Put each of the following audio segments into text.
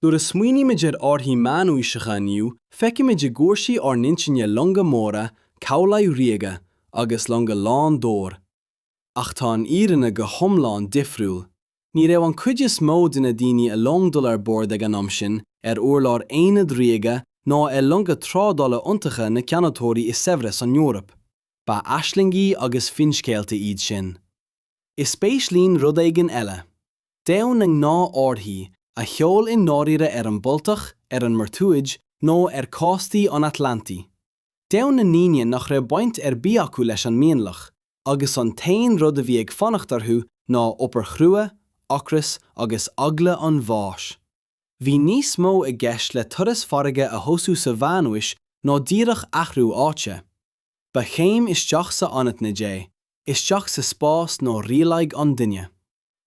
Nuair a smaoinímid ar árthaí meánaoiseacha inniu feicimid i gcúirsí ár n-intinne longa móra, cabhlaigh ríoga agus longa lán d'ór. Ach tá an fhírinne go hiomlán difriúil. Ní raibh an cuid is mó de na daoine a long dul ar bord ag an am sin ar urlár aonad ríoga ná ar longa trádála iontacha na ceannatóirí is saibhre san Eoraip. Ba aislingí agus finscéalta iad sin. Is spéis linn rud éigin eile. Domhan na ngnáthárthaí a sheol i ndáiríre ar an mBaltach, ar an mBurtúid nó ar chóstaí an Atlantaigh. Domhan na ndaoine nach raibh baint ar bith acu leis an mionlach agus an t-aon rud a bhí ag fanacht orthu ná obair chrua, ocras agus eagla an bháis. Bhí níos mó i gceist le turas farraige a thosú sa Mheánaois ná díreach athrú áite. Ba chéim isteach sa anaithnid é, isteach sa spás nó rialaigh an duine.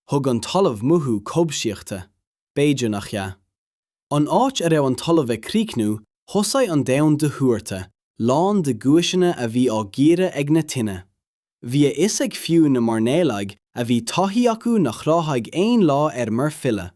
Thug an talamh mothú cobhsaíochta, b'fhéidir nach ea. An áit a raibh an talamh ag críochnú, thosaigh an domhan de thuairte, lán de guaiseanna a bhí á gcíoradh ag na tine. Bhí a fhios ag fiú na mairnéalaigh a bhí taithí acu nach ráthódh aon lá ar muir filleadh.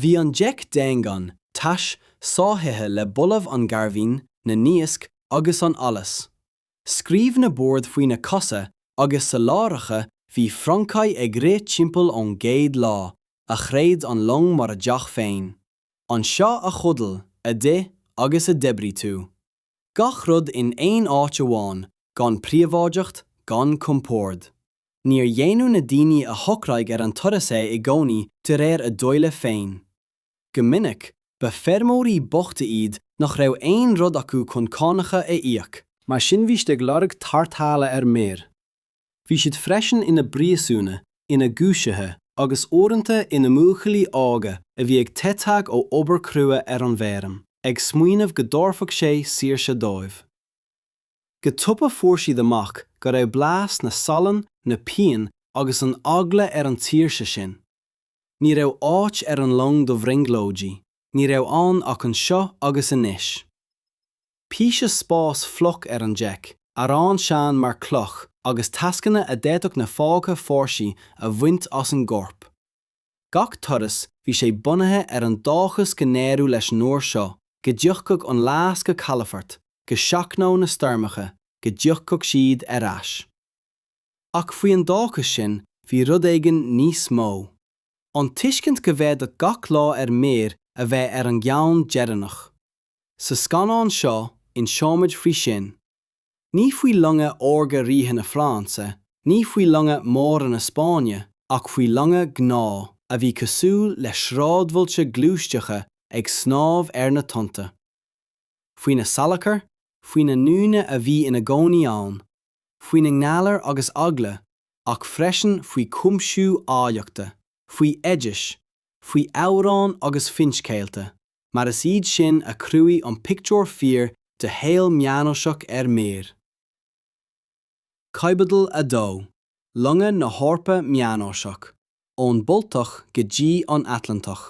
Bhí an deic daingean, tais, sáithithe le boladh an ghairbhín, na n-iasc agus an allais. Scríobh na boird faoi na cosa agus sa láithreacha bhí francaigh ag rith timpeall ón gcéad lá a chreid an long mar a dteach féin. Anseo a chodail, a d'ith agus a d'oibrigh tú. gach rud in aon áit amháin, gan príobháideacht, gan compord. Níor dhéanfadh na daoine a shocraigh ar an turas é i gcónaí de réir a dtoile féin. Go minic, ba feirmeoirí bochta iad nach raibh aon rud acu chun cánacha a íoc. Mar sin bhí siad ag lorg tarrthála ar muir. Bhí siad freisin ina bpríosúnaigh, ina gcúisithe, agus uaireanta ina mbuachaillí óga a bhí ag teitheadh ó obair chrua ar an bhfeirm, ag smaoineamh go dtabharfadh sé saoirse dóibh. Go tapa fuair siad amach go raibh blas na salann, na bpian agus an eagla ar an tsaoirse sin. Ní raibh áit ar an long do bhrionglóidí, ní raibh ann ach anseo agus anois. píosa spáis fliuch ar an deic, arán sean mar chloch agus tascanna a d'fhéadfadh na fágtha fórsaí a bhaint as an gcorp. Gach turas bhí sé bunaithe ar an dóchas go n-éireadh leis an uair seo, go dtiocfadh an lasta go calafort, go seachnódh na stoirmeacha, go dtiocfadh siad ar ais. Ach faoi an dóchas sin bhí rud éigin níos mó. An tuiscint go bhféadfadh gach lá ar muir a bheith ar an gceann deireanach. sa scannán seo inseoimid faoi sin, ní faoi longa órga ríthe na Fraince, ní faoi longa móra na Spáinne, ach faoi longa gnáth a bhí cosúil le sráidbhailte gluaisteacha ag snámh ar na tonnta. Faoina salachar, faoi na ndaoine a bhí ina gcónaí ann, faoina ngalair agus eagla, ach freisin faoi chuimsiú áilleachta, faoi oidis, faoi amhráin agus finscéalta. mar is iad sin a chruthaigh an pictiúr fíor de shaol meánaoiseach ar muir. Caibidil 2, longa na hEorpa meánaoiseach, ón Baltach go dtí an Atlantach.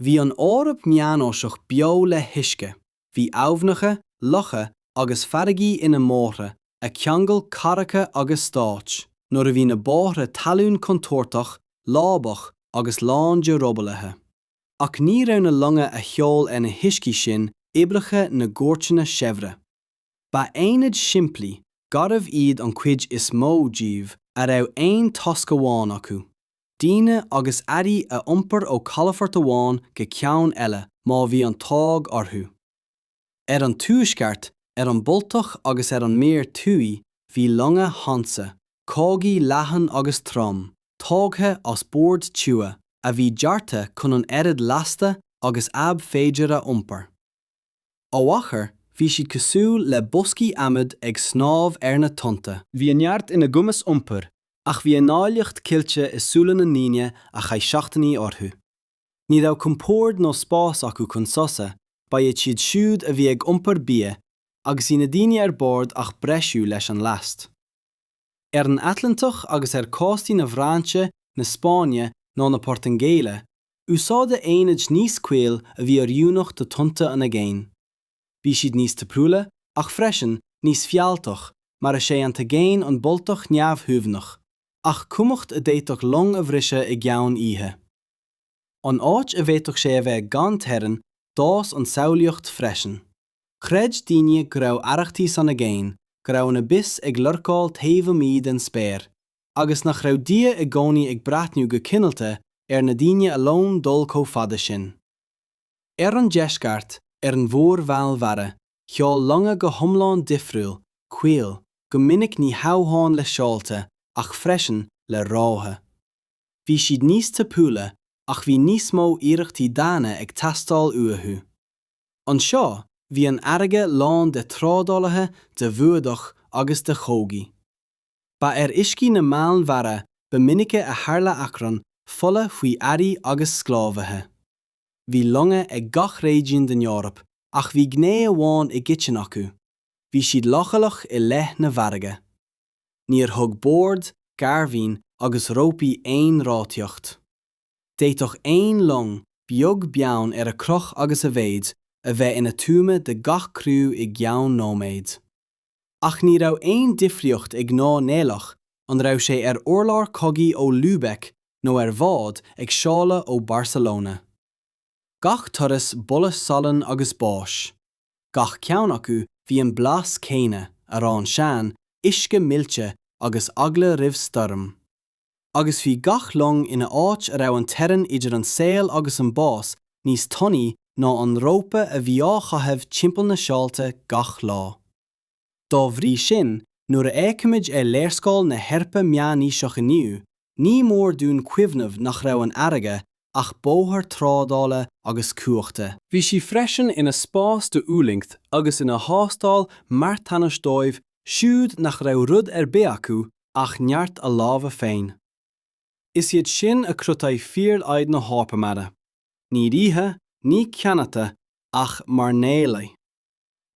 Bhí an Eoraip meánaoiseach beo le huisce, bhí aibhneacha, locha agus farraigí ina mbóithre a cheangail cathracha agus stáit, nuair a bhí na bóithre talún contúirteach, lábach agus lán de robálaithe. ach ní raibh na longa a sheol ar na huiscí sin oibreacha na gcúirteanna saibhre. Ba aonaid shimplí, garbh iad an chuid is mó díobh a raibh aon tasc amháin acu, daoine agus earraí a iompar ó chalafort amháin go ceann eile má bhí an t-ádh orthu. Ar an tuaisceart, ar an Baltach agus ar an Muir Thuaidh bhí longa Hansa, cogaí leathan agus trom, tógtha as boird tiubha, a bhí deartha chun an oiread lasta agus ab féidir a iompar. Ó achar bhí siad cosúil le boscaí adhmaid ag snámh ar na tonnta. Bhí a neart ina gcumas iompair ach bhí a n-áilleacht ceilte i súile na ndaoine a chaith seachtainí orthu. Ní raibh compórd nó spás acu chun sosa, ba iad siad siúd a bhí ag iompar bia agus bhí na daoine ar bord ach breisiú leis an last. Ar an Atlantach agus ar cóstaí na bhFraince, na Spáinne nó na Portaingéile, úsáideadh aonaid níos caol a bhí oiriúnach do tonnta an aigéin. Bhí siad níos tapúla ach freisin, níos fealltach mar is é an t-aigéan an Baltach neamhshuaimhneach ach cumhacht a d'fhéadfadh long a bhriseadh i gceann oíche. An áit a bhféadfadh sé a bheith gan teorainn, d'fhás an tsamhlaíocht freisin. Chreid daoine go raibh arrachtaí san aigéan, go raibh an abyss ag lurcáil taobh amuigh den spéir, agus nach raibh Dia i gcónaí ag breathnú go cineálta ar na daoine a leomhann dul chomh fada sin. Ar an deisceart, ar an Mhuir Mheánmhara, sheol longa go hiomlán difriúil, caol, go minic ní hamháin le seolta, ach freisin le rámha. bhí siad níos tapúla ach bhí níos mó iarrachtaí daonna ag teastáil uathu. Anseo, bhí an fharraige lán de thrádálaithe, d'fhuadach agus de chogaí. Ba ar uiscí na Meánmhara ba mhinice a tharla achrann fola faoi earraí agus sclábhaithe. Bhí longa ag gach réigiún den Eoraip ach bhí gné amháin i gcoiteann acu, bhí siad leochaileach i leith na farraige. Níor thug bord, gairbhín agus rópaí aon ráthaíocht. D'fhéadfadh aon long, beag beann ar a chruth agus a mhéid, a bheith ina tuama de gach criú i gceann nóiméid. Ach ní raibh aon difríocht ag mairnéalach an raibh sé ar urlár cogaidh ó Lübeck nó ar bhád ag seoladh ó Barcelona. gach turas boladh salainn agus báis, gach ceann acu bhí an blas céanna, arán sean, uisce millte agus eagla roimh stoirm. Agus bhí gach long ina áit a raibh an teorainn idir an saol agus an bás níos tanaí ná an rópa a bhí á chaitheamh timpeall na seolta gach lá. Dá bhrí sin, nuair a fhéacaimid ar léarscáil na hEorpa meánaoisí inniu, ní mór dúinn cuimhneamh nach raibh an fharraige ach bóthar trádála agus cumhachta. Bhí sí freisin ina spás d'fhulaingt agus ina thástáil marthanais dóibh siúd nach raibh rud ar bith acu ach neart a lámha féin. Is iad sin a chruthaigh fíorfhaid na hEorpa mara, ní ríthe, ní ceannaithe, ach mairnéalaigh.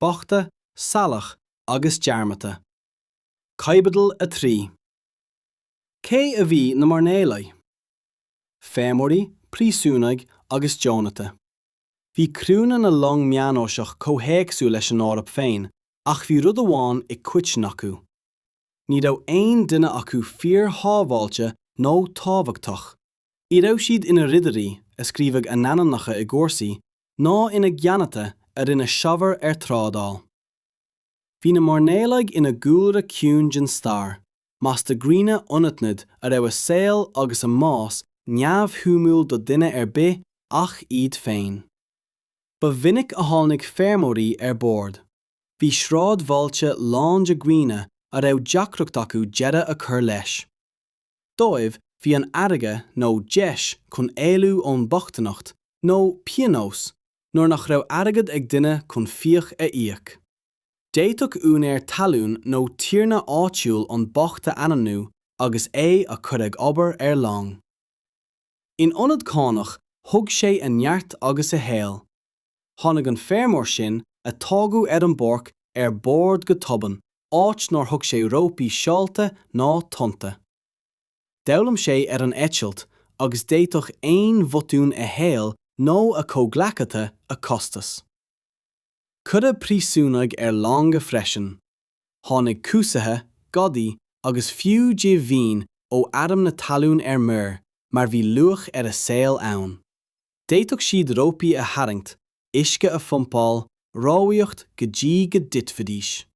bochta, salach agus dearmadta. Caibidil 3. Cé a bhí na mairnéalaigh? Feirmeoirí, príosúnaigh agus deonaithe. Bhí criúnna na long meánaoiseach chomh héagsúil leis an Eoraip féin ach bhí rud amháin i gcoiteann acu. Ní raibh aon duine acu fíor-shábháilte nó tábhachtach. Ní raibh siad ina ridirí a scríobhadh a n-ainmneacha i gcúrsaí ná ina gceannaithe a rinne saibhir ar thrádáil. Bhí na mairnéalaigh ina gcúlra ciúin den stair, mais de dhaoine anaithnid a raibh a saol agus a mbás neamhshuimiúil do dhuine ar bith ach iad féin. Ba mhinic a tháinig feirmeoirí ar bord. Bhí sráidbhailte lán de dhaoine a raibh deacracht acu deireadh a chur leis. dóibh bhí an fharraige nó deis chun éalú ón mbochtaineacht nó pionós nuair nach raibh airgead ag duine chun fiacha a íoc. D'fhéadfadh úinéir talún nó tiarna áitiúil an bocht a ainmniú agus é a chur ag obair ar long. In ionad cánach, thug sé a neart agus a shaol. Tháinig an feirmeoir sin a tógadh ar an bpáirc ar bord go tobann, áit nár thuig sé rópaí seolta ná tonnta. D'fhoghlaim sé ar an eitilt agus d'fhéadfadh aon bhotún a shaol nó a chomhghleacaithe a chostas. Cuireadh príosúnaigh ar longa freisin. Tháinig cúsaithe, gadaí agus fiú dídeanaithe ó airm na talún ar muir mar bhí luach ar a saol ann. D'fhéadfadh siad rópaí a tharraingt, uisce a phumpáil, rámhaíocht go dtí go dtitfidís.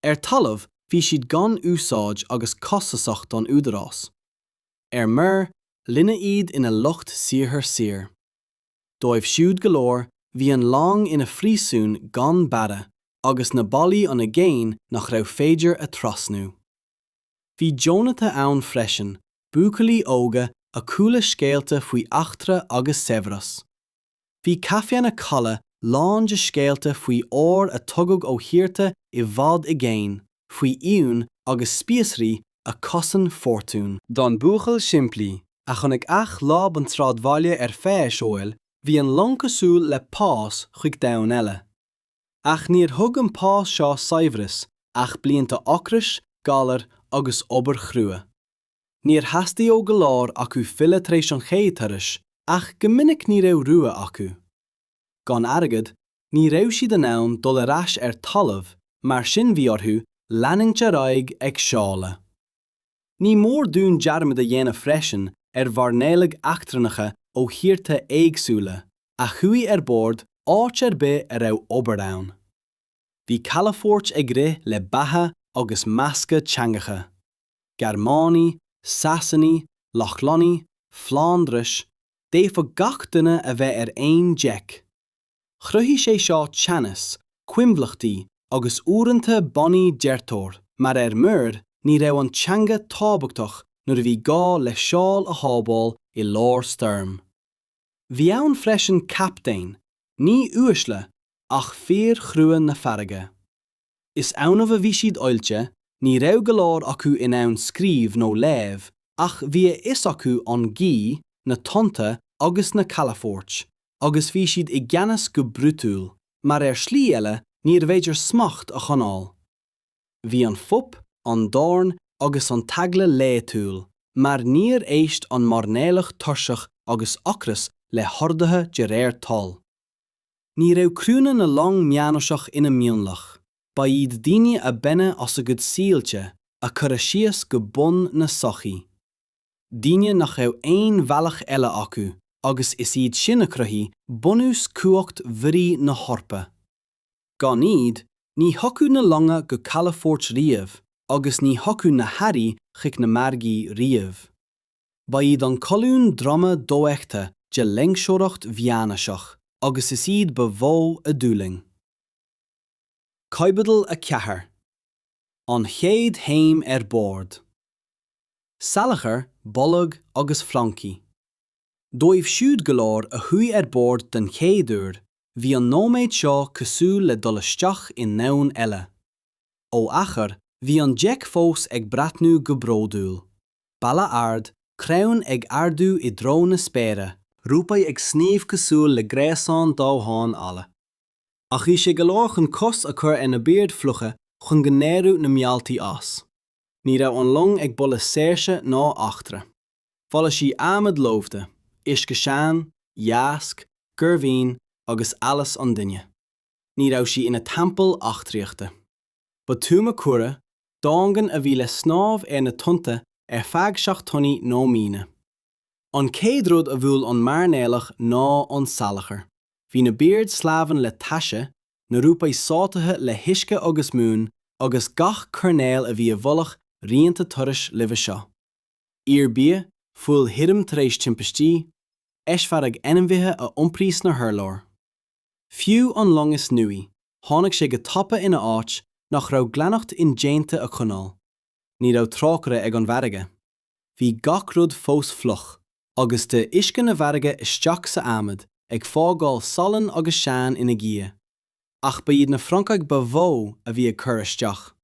Ar talamh, bhí siad gan úsáid agus costasach don údarás. Ar muir, rinneadh iad ina lucht saothair saor. Dóibh siúd go leor, bhí an long ina phríosún gan barraí agus na ballaí an aigéan nach raibh féidir a thrasnú. Bhí deonata ann freisin, buachaillí óga a chuala scéalta faoi eachtra agus saibhreas. Bhí caiféanna calaidh lán de scéalta faoi ór a tugadh ó thíortha i bhfad i gcéin, faoi fhíon agus spíosraí a chosain fortún. Don buachaill simplí, a chonaic ach láib an tsráidbhaile ar feadh a shaoil, bhí an long cosúil le pas chuig domhan eile. Ach níor thug an pas seo saibhreas ach blianta ocrais, galair agus obair chrua. Níor theastaigh ó go leor acu filleadh tar éis an chéad turais ach go minic ní raibh rogha acu. Gan airgead, ní raibh siad in ann dul ar ais ar talamh, mar sin bhí orthu leanúint ar aghaidh ag seoladh. Ní mór dúinn dearmad a dhéanamh freisin ar mhairnéalaigh eachtrannacha ó thíortha éagsúla a chuaigh ar bord áit ar bith a raibh obair ann. Bhí calafoirt ag rith le beatha agus meascadh teangacha, Gearmánaigh, Sasanaigh, Lochlannaigh, Flándrais, d'fhéadfadh gach duine a bheith ar aon deic, Chruthaigh sé seo teannas, coinbhleachtaí agus uaireanta bannaí deirteoir mar ar muir ní raibh an teanga tábhachtach nuair a bhí gá le seol a shábháil i lár stoirm. Bhí ann freisin captaein, ní uaisle, ach fir chrua na farraige. Is annamh a bhí siad oilte, ní raibh go leor acu in ann scríobh nó léamh, ach bhí a fhios acu an ghaoth, na tonnta agus na calafoirt, agus bhí siad i gceannas go brúidiúil, mar ar shlí eile níorbh fhéidir smacht a choinneáil. Bhí an fuip, an dorn agus an t-eagla laethúil, mar níor éist an mairnéalach tuirseach agus ocras le horduithe de réir toil. Ní raibh criúnna na long meánaoiseach ina mionlach, ba iad daoine a baineadh as a gcuid saoilte a cuireadh síos go bun na sochaí, daoine nach raibh aon bhealach eile acu agus is iad sin a chruthaigh bunús chumhacht mhuirí na hEorpa. Gan iad, ní thiocfadh na longa go calafoirt riamh agus ní thiocfadh na hearraí chuig na margaí riamh. Ba iad an colún droma dofheicthe de loingseoireacht mheánaoiseach agus is iad ba mhó a d'fhulaing. Caibidil 4. An chéad chéim ar bord. Salachar, boladh agus francaigh. Dóibh siúd go leor a chuaigh ar bord den chéad uair, bhí an nóiméad seo cosúil le dul isteach i ndomhan eile. Ó achar, bhí an deic fós ag breathnú go bródúil. balla ard, crainn ag ardú i dtreo na spéire, rópaí ag sníomh cosúil le gréasáin damháin alla, ach bhí sé go leor chun cos a chur ar na boird fhliucha chun go n-éireodh na mealltaí as. Ní raibh an long ag boladh saoirse ná eachtra. Bholaigh sí adhmad lofa, uisce sean, iasc, gairbhín agus allas an duine. Ní raibh sí ina teampall eachtraíochta. Ba tuama cúng, daingean a bhí le snámh ar na tonnta ar feadh seachtainí nó míonna. An chéad rud a bhuail an mairnéalach ná an salachar. Bhí na boird sleamhain le taise, na rópaí sáithithe le huisce agus mún, agus gach coirnéal a bhí i bhfolach rianta turais roimhe seo. Iarbhia, fuil thirim tar éis timpistí, eisfhearadh ainmhithe a iompraíodh sna hurláir. Fiú an long is nuaí, tháinig sé go tapa ina áit nach raibh glaineacht indéanta a choinneáil. Ní raibh trócaire ag an bhfarraige. Bhí gach rud fós fliuch, agus d'fhill uisce na farraige isteach sa adhmad, ag fágáil salann agus sean ina dhiaidh. Ach ba iad na francaigh ba mhó a bhí ag cur isteach.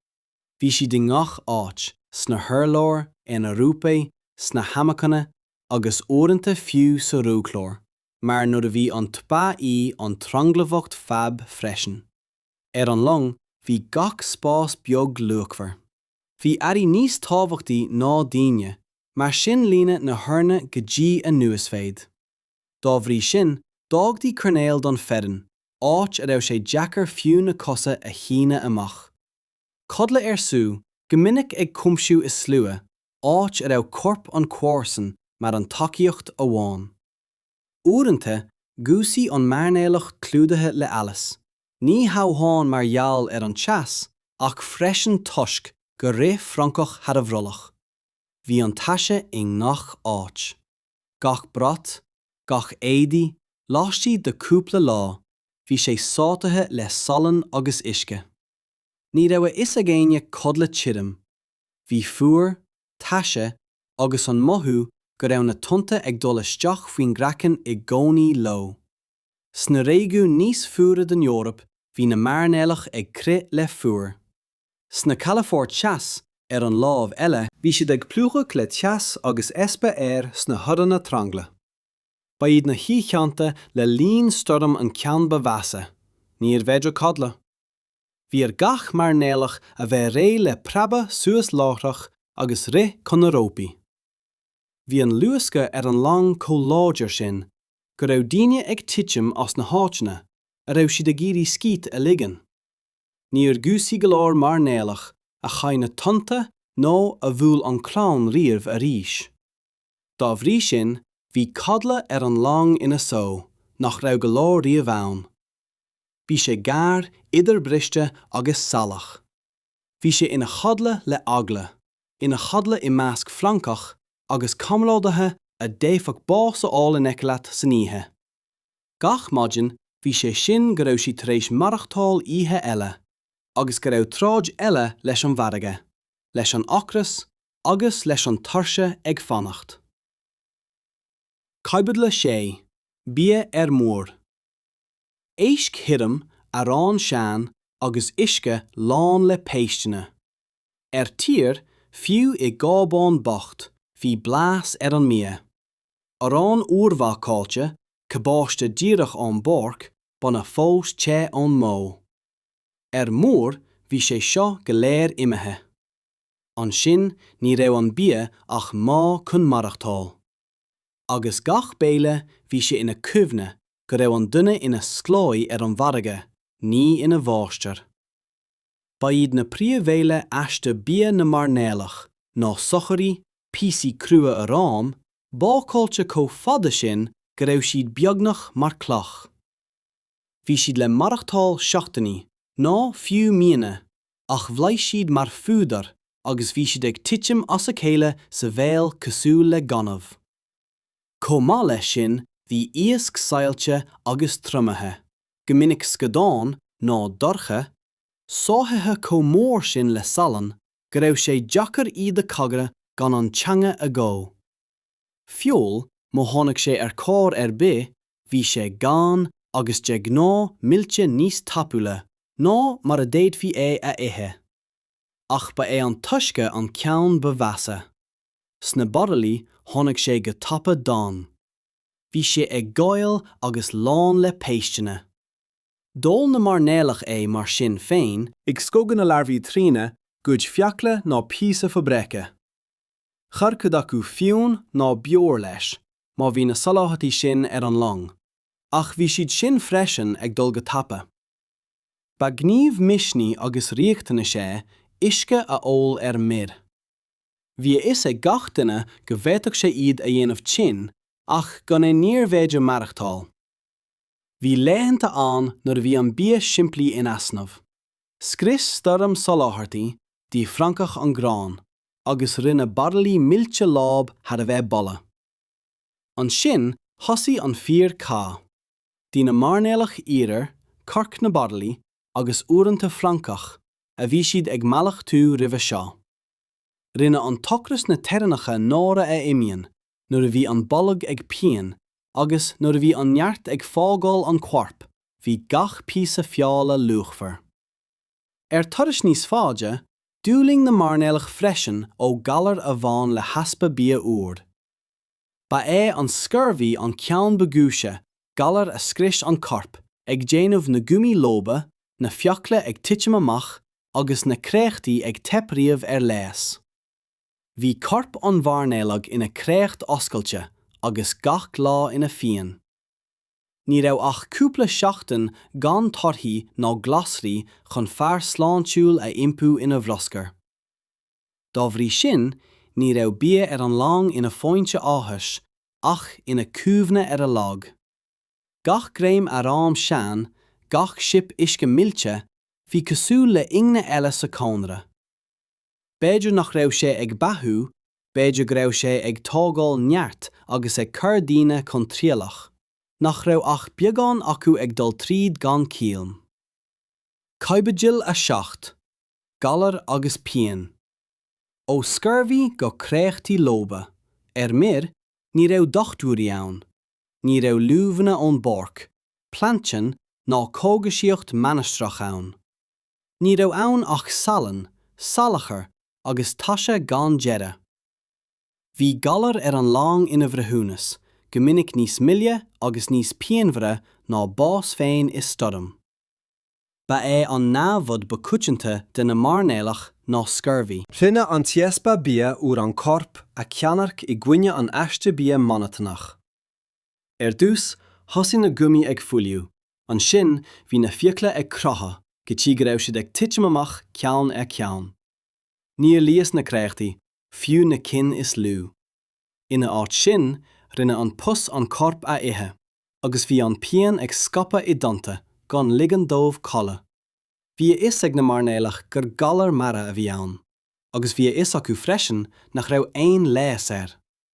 Bhí siad i ngach áit, sna hurláir, ar na rópaí, sna hamacanna, agus uaireanta fiú sa roghchlár. mar nuair a bhí an tba í an tranglamhacht fab freisin. Ar an long bhí gach spás beag luachmhar. Bhí earraí níos tábhachtaí ná daoine, mar sin líonadh na hurláir go dtí a n-uasmhéid. Dá bhrí sin d'fhágtaí coirnéal don fhoireann, áit a raibh sé deacair fiú na cosa a shíneadh amach. Codladh ar siúl, go minic ag cuimsiú i slua, áit a raibh corp an comharsan mar an tacaíocht amháin. Uaireanta, dhúisigh an mairnéalach clúdaithe le allas, ní hamháin mar gheall ar an teas, ach freisin toisc gur rith francach thar a bhrollach. Bhí an taise i ngach áit. Gach brat, gach éadaí, laistigh de chúpla lá, bhí sé sáithithe le salann agus uisce. Ní raibh a fhios ag éinne codladh tirim, Bhí fuar, taise agus an mothú go raibh na tonnta ag dul isteach faoin gcraiceann i gcónaí leo. Sna réigiúin níos fuaire den Eoraip bhí na mairnéalach ag crith le fuacht. Sna calafoirt theas, ar an lámh eile, bhí siad ag plúchadh le teas agus easpa aeir sna hurranna trangla Ba iad na hoícheanta le linn stoirm an ceann ba mheasa, níorbh fhéidir codladh. Bhí ar gach mairnéalach a bheith réidh le preabadh suas láithreach agus rith chun na rópaí. Bhí an luascadh ar an long chomh láidir sin go raibh daoine ag titim as na háiteanna a raibh siad ag iarraidh scíth a ligean. Níor dhúisigh go leor mairnéalach a chaith na tonnta nó a bhuail an crann riamh arís. Dá bhrí sin, bhí codladh ar an long ina só nach raibh go leor riamh ann. Bhí sé gearr, idirbhriste agus salach. Bhí sé ina chodladh le eagla, ina chodladh i measc francach agus comrádaithe a d'fhéadfadh bás a fháil in aici leat san oíche. Gach maidin bhí sé sin go raibh siad tar éis maireachtáil oíche eile, agus go raibh troid eile leis an bhfarraige, leis an ocras agus leis an tuirse ag fanacht. Caibidil 6. Bia ar muir. Éisc thirim, arán sean agus uisce lán le péisteanna. Ar tír, fiú i gcábán bocht, bhí blas ar an mbia. Arán úrbhácáilte, cabáiste díreach ón bpáirc, bainne fós te ón mbó. Ar muir, bhí sé seo go léir imithe. Ansin, ní raibh an bia ach modh chun maireachtáil. agus gach béile bhí sé ina chuimhne go raibh an duine ina sclábhaí ar an bhfarraige, ní ina mháistir. Ba iad na príomhbhéile aiste bia na mairnéalach ná sochairí, píosaí crua aráin, bácáilte chomh fada sin go raibh siad beagnach mar cloch. Bhí siad le maireachtáil seachtainí, nó fiú míonna, ach bhlais siad mar phúdar agus bhí siad ag titim as a chéile sa bhéal cosúil le gaineamh. Chomh maith leis sin, bhí iasc saillte agus triomaithe, go minic scadán, nó dorsch, sáithithe chomh mór sin le salann go raibh sé deacair iad a chogaint gan an teanga a dhó. Feoil, má tháinig sé ar chor ar bith, bhí sé gann agus de ghnáth millte níos tapúla ná mar a d'fhéadfaí é a ithe. Ach ba é an t-uisce an ceann ba mheasa. Sna baraillí tháinig sé go tapa donn. Bhí sé ag gal agus lán le péisteanna. D'ól na mairnéalaigh é mar sin féin. Ag scagadh na larbhaí trína gcuid fiacla nó píosa fabraice. Chuir cuid acu fíon nó beoir leis, má bhí na soláthairtí sin ar an long, ach bhí siad sin freisin ag dul go tapa. Ba ghníomh misnigh agus riachtanais é uisce a ól ar muir. Bhí a fhios ag gach duine go bhféadfadh sé iad a dhéanamh tinn, ach gan é níorbh fhéidir maireachtáil. Bhí laethanta ann nuair a bhí an bia simplí in easnamh. Scrios stoirm soláthairtí d'ith francaigh an grán. agus rinne baraillí millte láib thar a bheith bolla. Ansin thosaigh an fíor cath. D'ith na mairnéalaigh iarar corc na baraillí agus uaireanta francaigh a bhí siad ag mallachtú roimhe seo. Rinne an t-ocras na teorainneacha náire a imíonn nuair a bhí an bolg ag pian agus nuair a bhí an neart ag fágáil an choirp bhí gach píosa feola luachmhar. Ar thurais níos faide, d'fhulaing na mairnéalaigh freisin ó galar a bhain le heaspa bia úr. Ba é an scurvy an ceann ba ghuaise, galar a scrios an corp, ag déanamh na gumaí lofa, na fiacla ag titim amach, agus na créachtaí ag teip riamh ar leigheas. Bhí corp an mhairnéalaigh ina créacht oscailte, agus gach lá ina phian. Ní raibh ach cúpla seachtain gan torthaí ná glasraí chun fear sláintiúil a iompú ina bhruscar. Dá bhrí sin, ní raibh bia ar an long ina foinse áthais, ach ina cuimhne ar a lag. Gach greim aráin sean, gach sip uisce millte, bhí cosúil le tairne eile sa chónra. b'fhéidir nach raibh sé ag beathú, b'fhéidir go raibh sé ag tógáil neart agus ag cur daoine chun trialach, nach raibh ach beagán acu ag dul tríd gan cailliúint. Caibidil 7. Galar agus pian. Ó scurvy go créachtaí lofa. Ar muir, ní raibh dochtúirí ann. Ní raibh luibheanna ón bpáirc, Plantin ná cógaisíocht mainistreach ann. Ní raibh ann ach salann, salachar agus taise gan deireadh. Bhí galar ar an long ina bhreithiúnas, go minic níos moille agus níos pianmhaire ná bás féin i stoirm. Ba é an namhad ba coitianta de na mairnéalaigh ná scurvy. Rinne an easpa bia úr an corp a cheannairc i gcoinne an aiste bia monotonach. Ar dtús, thosaigh na gumaí ag fuiliú, ansin bhí na fiacla ag croitheadh go dtí go raibh siad ag titim amach ceann ar cheann. Níor leigheas na créachtaí, fiú na cinn is lú. Ina áit sin, rinne an pus an corp a ithe, agus bhí an pian ag scaipeadh i dtonnta, gan ligean dóibh codladh. Bhí a fhios ag na mairnéalaigh gur galar mara a bhí ann, agus bhí a fhios acu freisin nach raibh aon leigheas air.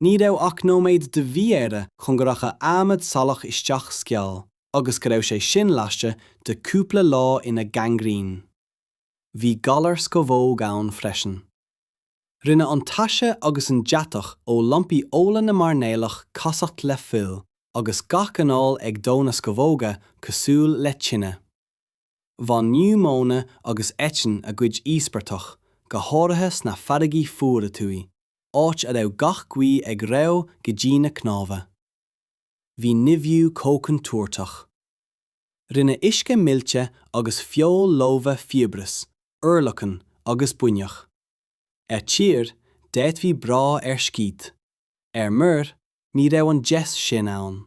Ní raibh ach nóiméad de mhí-aire chun go rachadh adhmad salach isteach sa gcneá agus go raibh sé sin laistigh de cúpla lá ina gangrene. Bhí galar scamhóg ann freisin. Rinne an taise agus an deatach ó lampaí ola na mairnéalaigh casacht le fuil agus gach anáil ag dó na scamhóga cosúil le tine. Bhain niúmóine agus eitinn a gcuid íospartach, go háirithe sna farraigí fuara thuaidh, áit a raibh gach gaoth ag reo go dtí na cnámha. Bhí nimhiú comhchontúirteach. Rinne uisce millte agus feoil lofa fiabhras, urlacan agus buinneach. Ar tír, d'fhéadfaí brath ar scíth. Ar muir, ní raibh an deis sin ann.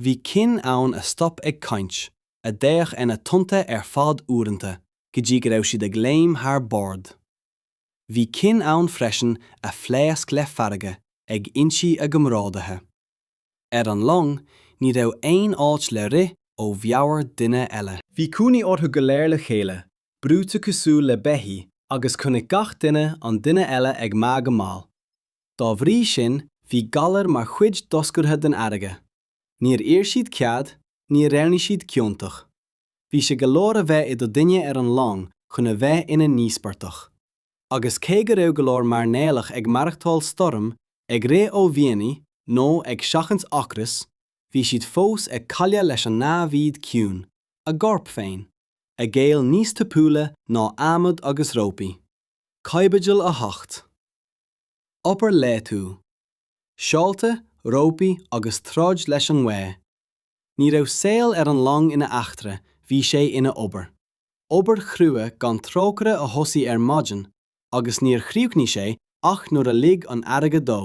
Bhí cinn ann a stop ag caint, a d'fhéach sna tonnta ar feadh uaireanta, go dtí go raibh siad ag léim thar bord. Bhí cinn ann freisin a phléasc le fearg ag ionsaí a gcomrádaithe. Ar an long, ní raibh aon áit le rith ó mheabhair duine eile. Bhí cónaí orthu go léir le chéile, brúite cosúil le beithígh, agus chonaic gach duine an duine eile ag meath go mall. Dá bhrí sin, bhí galar mar chuid doscartha den fharraige. Níor iarr siad cead, níor dheimhnigh siad ciontach. Bhí sé go leor a bheith i do dhuine ar an long chun a bheith ina n-íospartach. Agus cé go raibh go leor mairnéalach ag maireachtáil stoirm, ag rith ó mhianaí, nó ag seachaint ocrais, bhí siad fós ag cailleadh leis an namhaid ciúin, a gcorp féin, a ghéill níos tapúla ná adhmad agus rópaí. Caibidil 8. obair laethúil, seolta, rópaí agus troid leis an ngaoth. Ní raibh saol ar an long ina eachtra, bhí sé ina obair. Obair chrua gan trócaire a thosaigh ar maidin agus níor chríochnaigh sé ach nuair a lig an fharraige dó.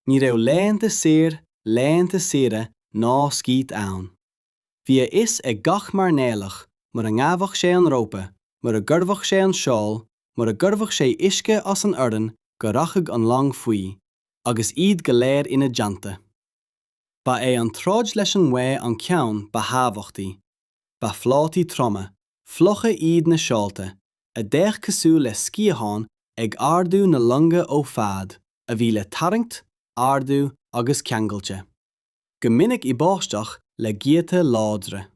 Ní raibh laethanta saor, laethanta saoire ná scíth ann. Bhí a fhios ag gach mairnéalach, mura ngabhadh sé an rópa, mura gcuirfeadh sé an seol, mura gcuirfeadh sé uisce as an urrann go rachadh an long faoi, agus iad go léir ina dteannta. Ba é an troid leis an ngaoth an ceann ba thábhachtaí. Ba phlátaí troma, fliucha iad na seolta, a d'fhéach cosúil le sciatháin ag ardú na longa ó fad a bhí le tarraingt, ardú agus ceangailte. go minic i báisteach le gaotha láidre.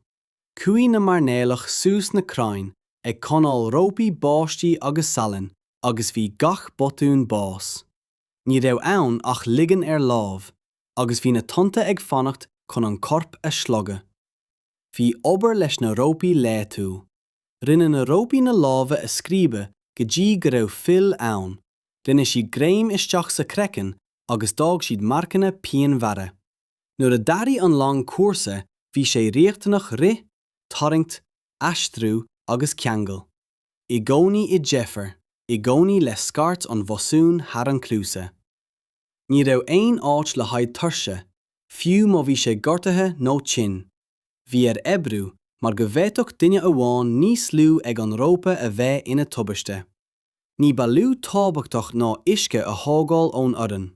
Chuaigh na mairnéalaigh suas na crainn ag coinneáil rópaí báistí agus salainn agus bhí gach botún bás. Ní raibh ann ach ligean ar láimh, agus bhí na tonnta ag fanacht chun an corp a shlogadh. Bhí obair leis na rópaí laethúil. Rinne na rópaí na lámha a scríobadh go dtí go raibh fuil ann, rinne siad greim isteach sa chraiceann agus d'fhág siad marcanna pianmhara. Nuair a d'athraigh an long cúrsa bhí sé riachtanach rith, tarraingt, aistriú agus ceangal. I gcónaí i deifir, i gcónaí le scairt an bhosúin thar an chluasa. Ní raibh aon áit le haghaidh tuirse, fiú má bhí sé gortaithe nó tinn. bhí air oibriú mar go bhféadfadh duine amháin níos lú ag an rópa a bheith ina tubaiste. Ní ba lú tábhachtach ná uisce a thógáil ón urrann,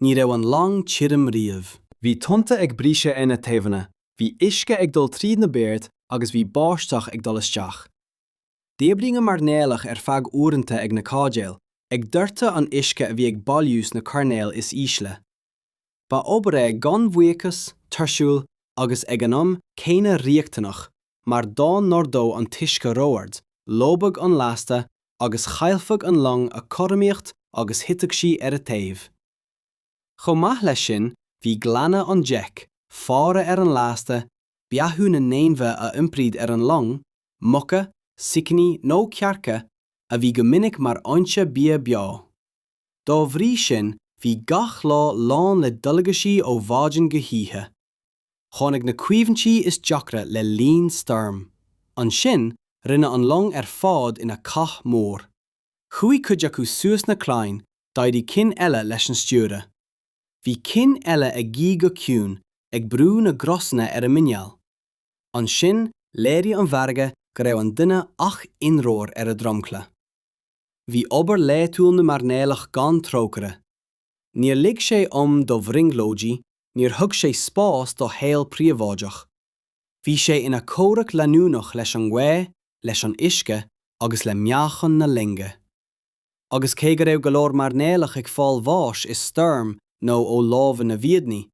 ní raibh an long tirim riamh. Bhí tonnta ag briseadh ar na taobhanna, bhí uisce ag dul tríd na boird agus bhí báisteach ag dul isteach. D'oibrigh na mairnéalaigh ar feadh uaireanta ag na caidéil, ag doirteadh an uisce a bhí ag bailiú sna coirnéil is ísle. Ba obair é gan bhuíochas, tuirsiúil agus ag an am céanna riachtanach mar dá n-ardódh an t-uisce ró-ard, lobhfadh an lasta agus chaillfeadh an long a cothromaíocht agus thitfeadh sí ar a taobh. Chomh maith leis sin, bhí glanadh an deic, faire ar an lasta, beathú na n-ainmhithe a iompraíodh ar an long, muca, sicíní nó cearca, a bhí go minic mar fhoinse bia beo. Dá bhrí sin, bhí gach lá lán le dualgaisí ó mhaidin go hoíche. Tháinig na cuimhní is deacra le linn stoirm. Ansin, rinne an long ar fad ina cath mór. Chuaigh cuid acu suas na crainn, d'éirigh cinn eile leis an stiúradh. Bhí cinn eile ag guí go ciúin, ag brú na gcrosanna ar a muineál. Ansin, léirigh an bhfarraige go raibh an duine ach ionróir ar a dromchla. Bhí obair laethúil na mairnéalach gan trócaire. Níor lig sé am do bhrionglóidí, níor thug sé spás do shaol príobháideach. Bhí sé ina chomhrac leanúnach leis an ngaoth, leis an uisce agus le meáchan na loinge. Agus cé go raibh go leor mairnéalach ag fáil bháis i stoirm nó ó lámha na bhfiadhnaí,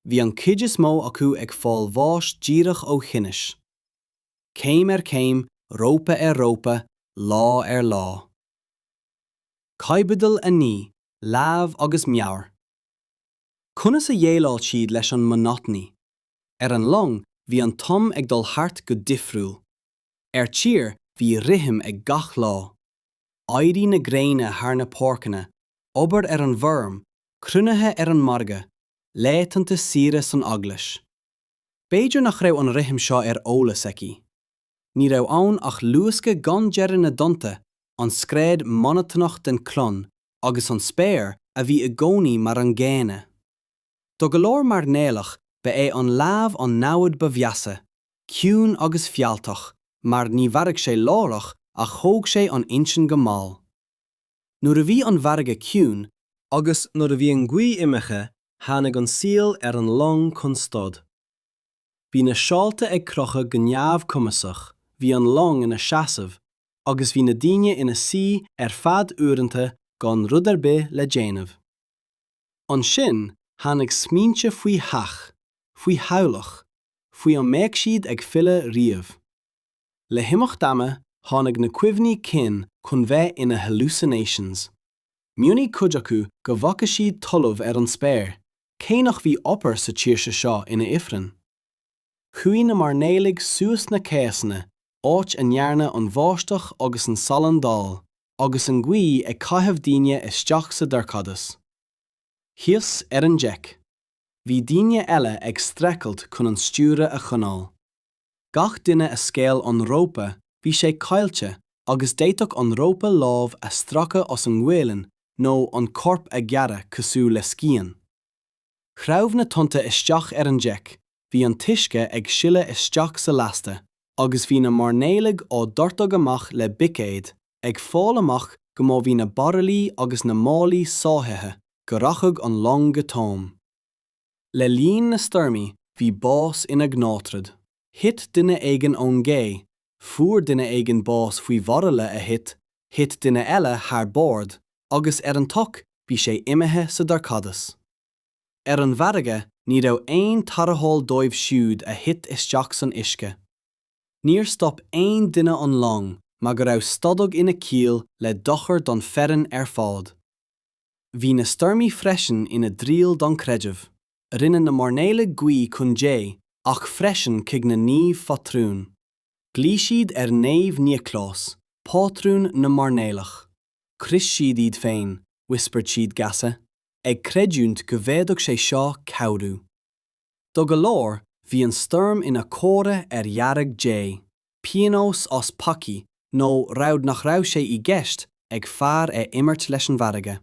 bhí an chuid is mó acu ag fáil bháis díreach ó thinneas. céim ar chéim, rópa ar rópa, lá ar lá. Caibidil 9, Lámh agus Meabhair. Conas a dhéileáil siad leis an monotony? Ar an long bhí an t-am ag dul thart go difriúil. Ar tír bhí rithim ag gach lá. Éirí na gréine thar na páirceanna, obair ar an bhfeirm, cruinnithe ar an margadh, laetanta saoire san eaglais. B'fhéidir nach raibh an rithim seo ar eolas aici. Ní raibh ann ach luascadh gan deireadh na dtonnta, an scread monotonach den clon agus an spéir a bhí i gcónaí mar an gcéanna. Do go leor mairnéalach ba é an leamh an namhaid ba mheasa, ciúin agus fealltach, mar ní mharaigh sé láithreach ach thóg sé an intinn go mall. Nuair a bhí an fharraige ciúin, agus nuair a bhí an ghaoth imithe tháinig an saol ar an long chun stad. Bhí na seolta ag crochadh go neamhchumasach, bhí an long ina seasamh agus bhí na daoine ina suí ar feadh uaireanta gan rud ar bith le déanamh. Ansin tháinig smaointe faoi theach, faoi theaghlach, faoi an mbeadh siad ag filleadh riamh. Le himeacht ama, tháinig na cuimhní cinn chun bheith ina hallucinations. Mhionnaigh cuid acu go bhfaca siad talamh ar an spéir, cé nach bhí obair sa tír seo ina ifreann. Chuaigh na mairnéalaigh suas na céasanna, áit a ndearna an bháisteach agus an salann dall, agus an ghaoth ag caitheamh daoine isteach sa dorchadas. Thíos ar an deic, bhí daoine eile ag streachailt chun an stiúradh a choinneáil. gach duine a scaoil an rópa bhí sé caillte agus d'fhéadfadh an rópa lámh a stracadh as an ngualainn nó an corp a ghearradh cosúil le scian. Shreabh na tonnta isteach ar an deic, bhí an t-uisce ag sileadh isteach sa lasta agus bhí na mairnéalaigh á dhoirteadh amach le bicéad ag fáil amach go má bhí na baraillí agus na málaí sáithithe go rachadh an long go tóin. Le linn na stoirmí, bhí bás ina gnáthrud. Thit duine éigin ón gcé, fuair duine éigin bás faoi bhairille a thit, thit duine eile thar bord, agus ar an tsoc bhí sé imithe sa dorchadas. Ar an bhfarraige, ní raibh aon tarrtháil dóibh siúd a thit isteach san uisce. Níor stop aon duine an long mar go raibh stadadh ina ciall le dochar don foireann ar fad. Bhí na stoirmí freisin ina dtriail don creideamh. Rinne na mairnéalaigh guí chun Dé ach freisin chuig na naoimh phátrúin. Ghlaoigh siad ar Naomh Nioclás, pátrún na mairnéalach. Chros siad iad féin, whispered siad geasa, ag creidiúint go bhféadfadh sé seo cabhrú. Do go leor, bhí an stoirm ina comhartha ar fhearg Dé, pionós as peacaí nó rabhadh nach raibh sé i gceist ag fear a imirt leis an bhfarraige.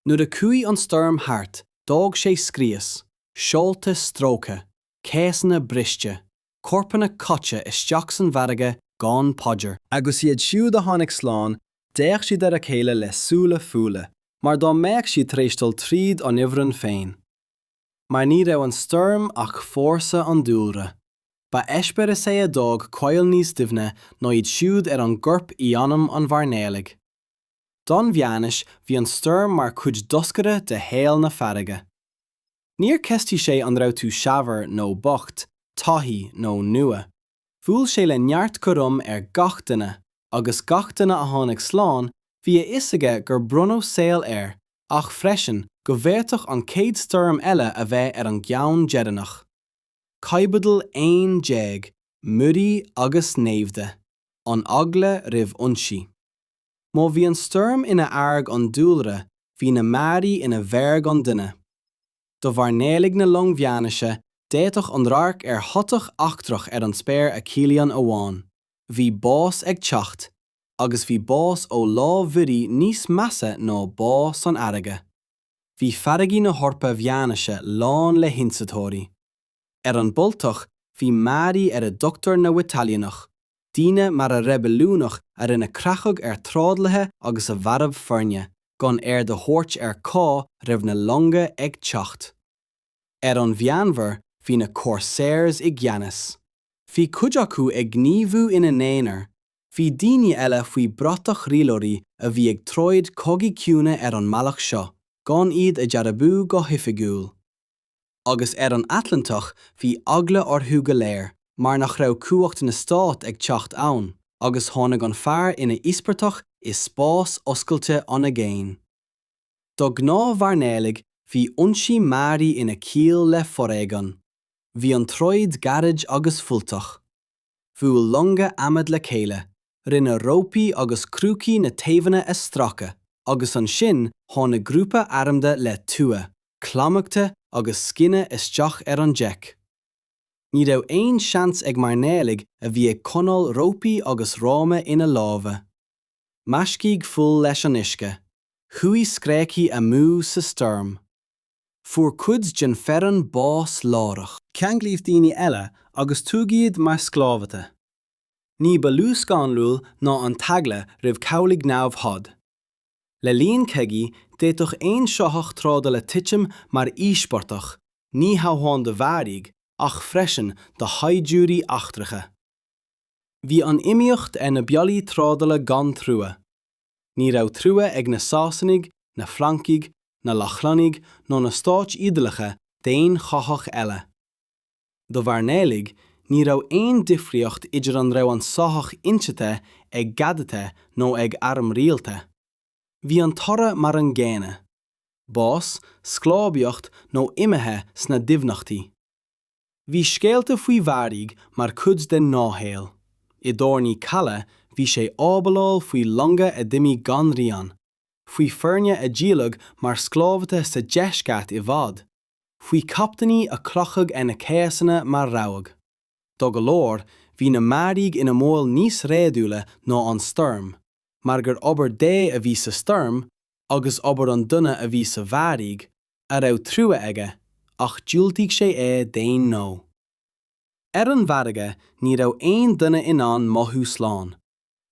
Nuair a chuaigh an stoirm thart, d'fhág sé scrios, seolta stróicthe, céasanna briste, corpanna caite isteach san bhfarraige gan paidir. Agus iad siúd a tháinig slán, d'fhéach siad ar a chéile le súile folmha, mar dá mbeadh siad tar éis dul tríd an ifreann féin, mar ní raibh an stoirm ach fórsa an dúlra. Ba eispéireas é a d'fhág coilm níos doimhne ná iad siúd ar an gcorp i anam an mhairnéalaigh. Don Mheánaois bhí an stoirm mar chuid doscartha de shaol na farraige. Níor ceistigh sé an raibh tú saibhir nó bocht, taithí nó nua. Bhuail sé le neart cothrom ar gach duine agus gach duine a tháinig slán bhí a fhios aige gur bronnadh saol air ach freisin go bhféadfadh an chéad stoirm eile a bheith ar an gceann deireanach. Caibidil 11, Muirí agus Naimhde, An Eagla roimh Ionsaí. Má bhí an stoirm ina fhearg an dúlra bhí na muirí ina bhfearg an duine. do mhairnéalaigh na long mheánaoise, d'fhéadfadh an radharc ar shoitheach eachtrach ar an spéir a chiallaíonn amháin, 'bhí bás ag teacht', agus 'bhí bás ó lámh mhuirí' níos measa ná 'bá san fharraige'. Bhí farraigí na hEorpa mheánaoise lán le hionsaitheoirí. Ar an Baltach bhí muirí ar a dtugtar na Witalionach, daoine mara reibiliúnach a rinne creachadh ar thrádálaithe agus a mharbh foirne gan aird a thabhairt ar cá raibh na longa ag teacht. Ar an Mheánmhuir bhí na Corsairs i gceannas. Bhí cuid acu ag gníomhú ina n-aonar, bhí daoine eile faoi bratach rialóirí a bhí ag troid cogaí ciúine ar an mbealach seo, gan iad a dhearbhú go hoifigiúil. Agus ar an Atlantach bhí eagla orthu go léir mar nach raibh cumhacht na Stát ag teacht ann agus tháinig an fear ina íospartach i spás oscailte an aigéin. Do ghnáthmhairnéalaigh bhí ionsaí mearaí ina ciall le foréigean. Bhí an troid gairid agus fuilteach. Bhuail longa adhmad le chéile, rinne rópaí agus crúcaí na taobhanna a stracadh, agus ansin tháinig grúpa armda le tua, claimhte agus scine isteach ar an deic. Ní raibh aon seans ag mairnéalaigh a bhí ag coinneáil rópaí agus rámha ina lámha. Mheascaigh fuil leis an uisce. Chuaigh scréachaí amú sa stoirm. Fuair cuid den fhoireann bás láithreach. Ceanglaíodh daoine eile agus tugadh iad mar sclábhaite. Ní ba lú scanrúil ná an t-eagla roimh chabhlaigh namhad. Le linn cogaí, d'fhéadfadh aon soitheach trádála titim mar íospartach, ní hamháin do bhearaigh, ach freisin do shaighdiúirí eachtracha. Bhí an iomaíocht ar na bealaí trádála gan trua. Ní raibh trua ag na Sasanaigh, na Francaigh, na Lochlannaigh ná na Stáit Iodálacha d'aon shoitheach eile. Do mhairnéalaigh, ní raibh aon difríocht idir an raibh an soitheach ionsaithe ag gadaithe nó ag arm rialta. Bhí an toradh mar an gcéanna, bás, sclábhaíocht nó imithe sna doimhneachtaí. Bhí scéalta faoi bhearaigh mar chuid den ghnáthshaol. I dtábhairní calaidh bhí sé ábaláil faoi longa a d'imigh gan rian, faoi fhoirne a díoladh mar sclábhaithe sa deisceart i bhfad, faoi chaptaeiní a crochadh ar na céasanna mar rabhadh. Do go leor, bhí na mbearaigh ina mbaol níos réadúla ná an stoirm, mar gur obair Dé a bhí sa stoirm agus obair an duine a bhí sa bhearaigh, a raibh trua aige ach dhiúltaigh sé é d'aon ghnó. Ar an bhfarraige ní raibh aon duine in ann mothú slán,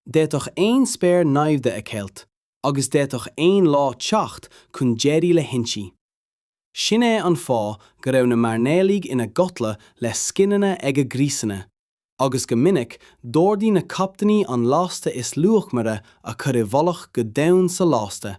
d'fhéadfadh aon spéir naimhde a cheilt agus d'fhéadfadh aon lá teacht chun deiridh le hionsaí. Sin é an fáth go raibh na mairnéalaigh ina gcodladh le scineanna ag a gcriosanna, agus go minic d'ordaigh na captaeiní an lasta is luachmaire a chur i bhfolach go domhain sa lasta.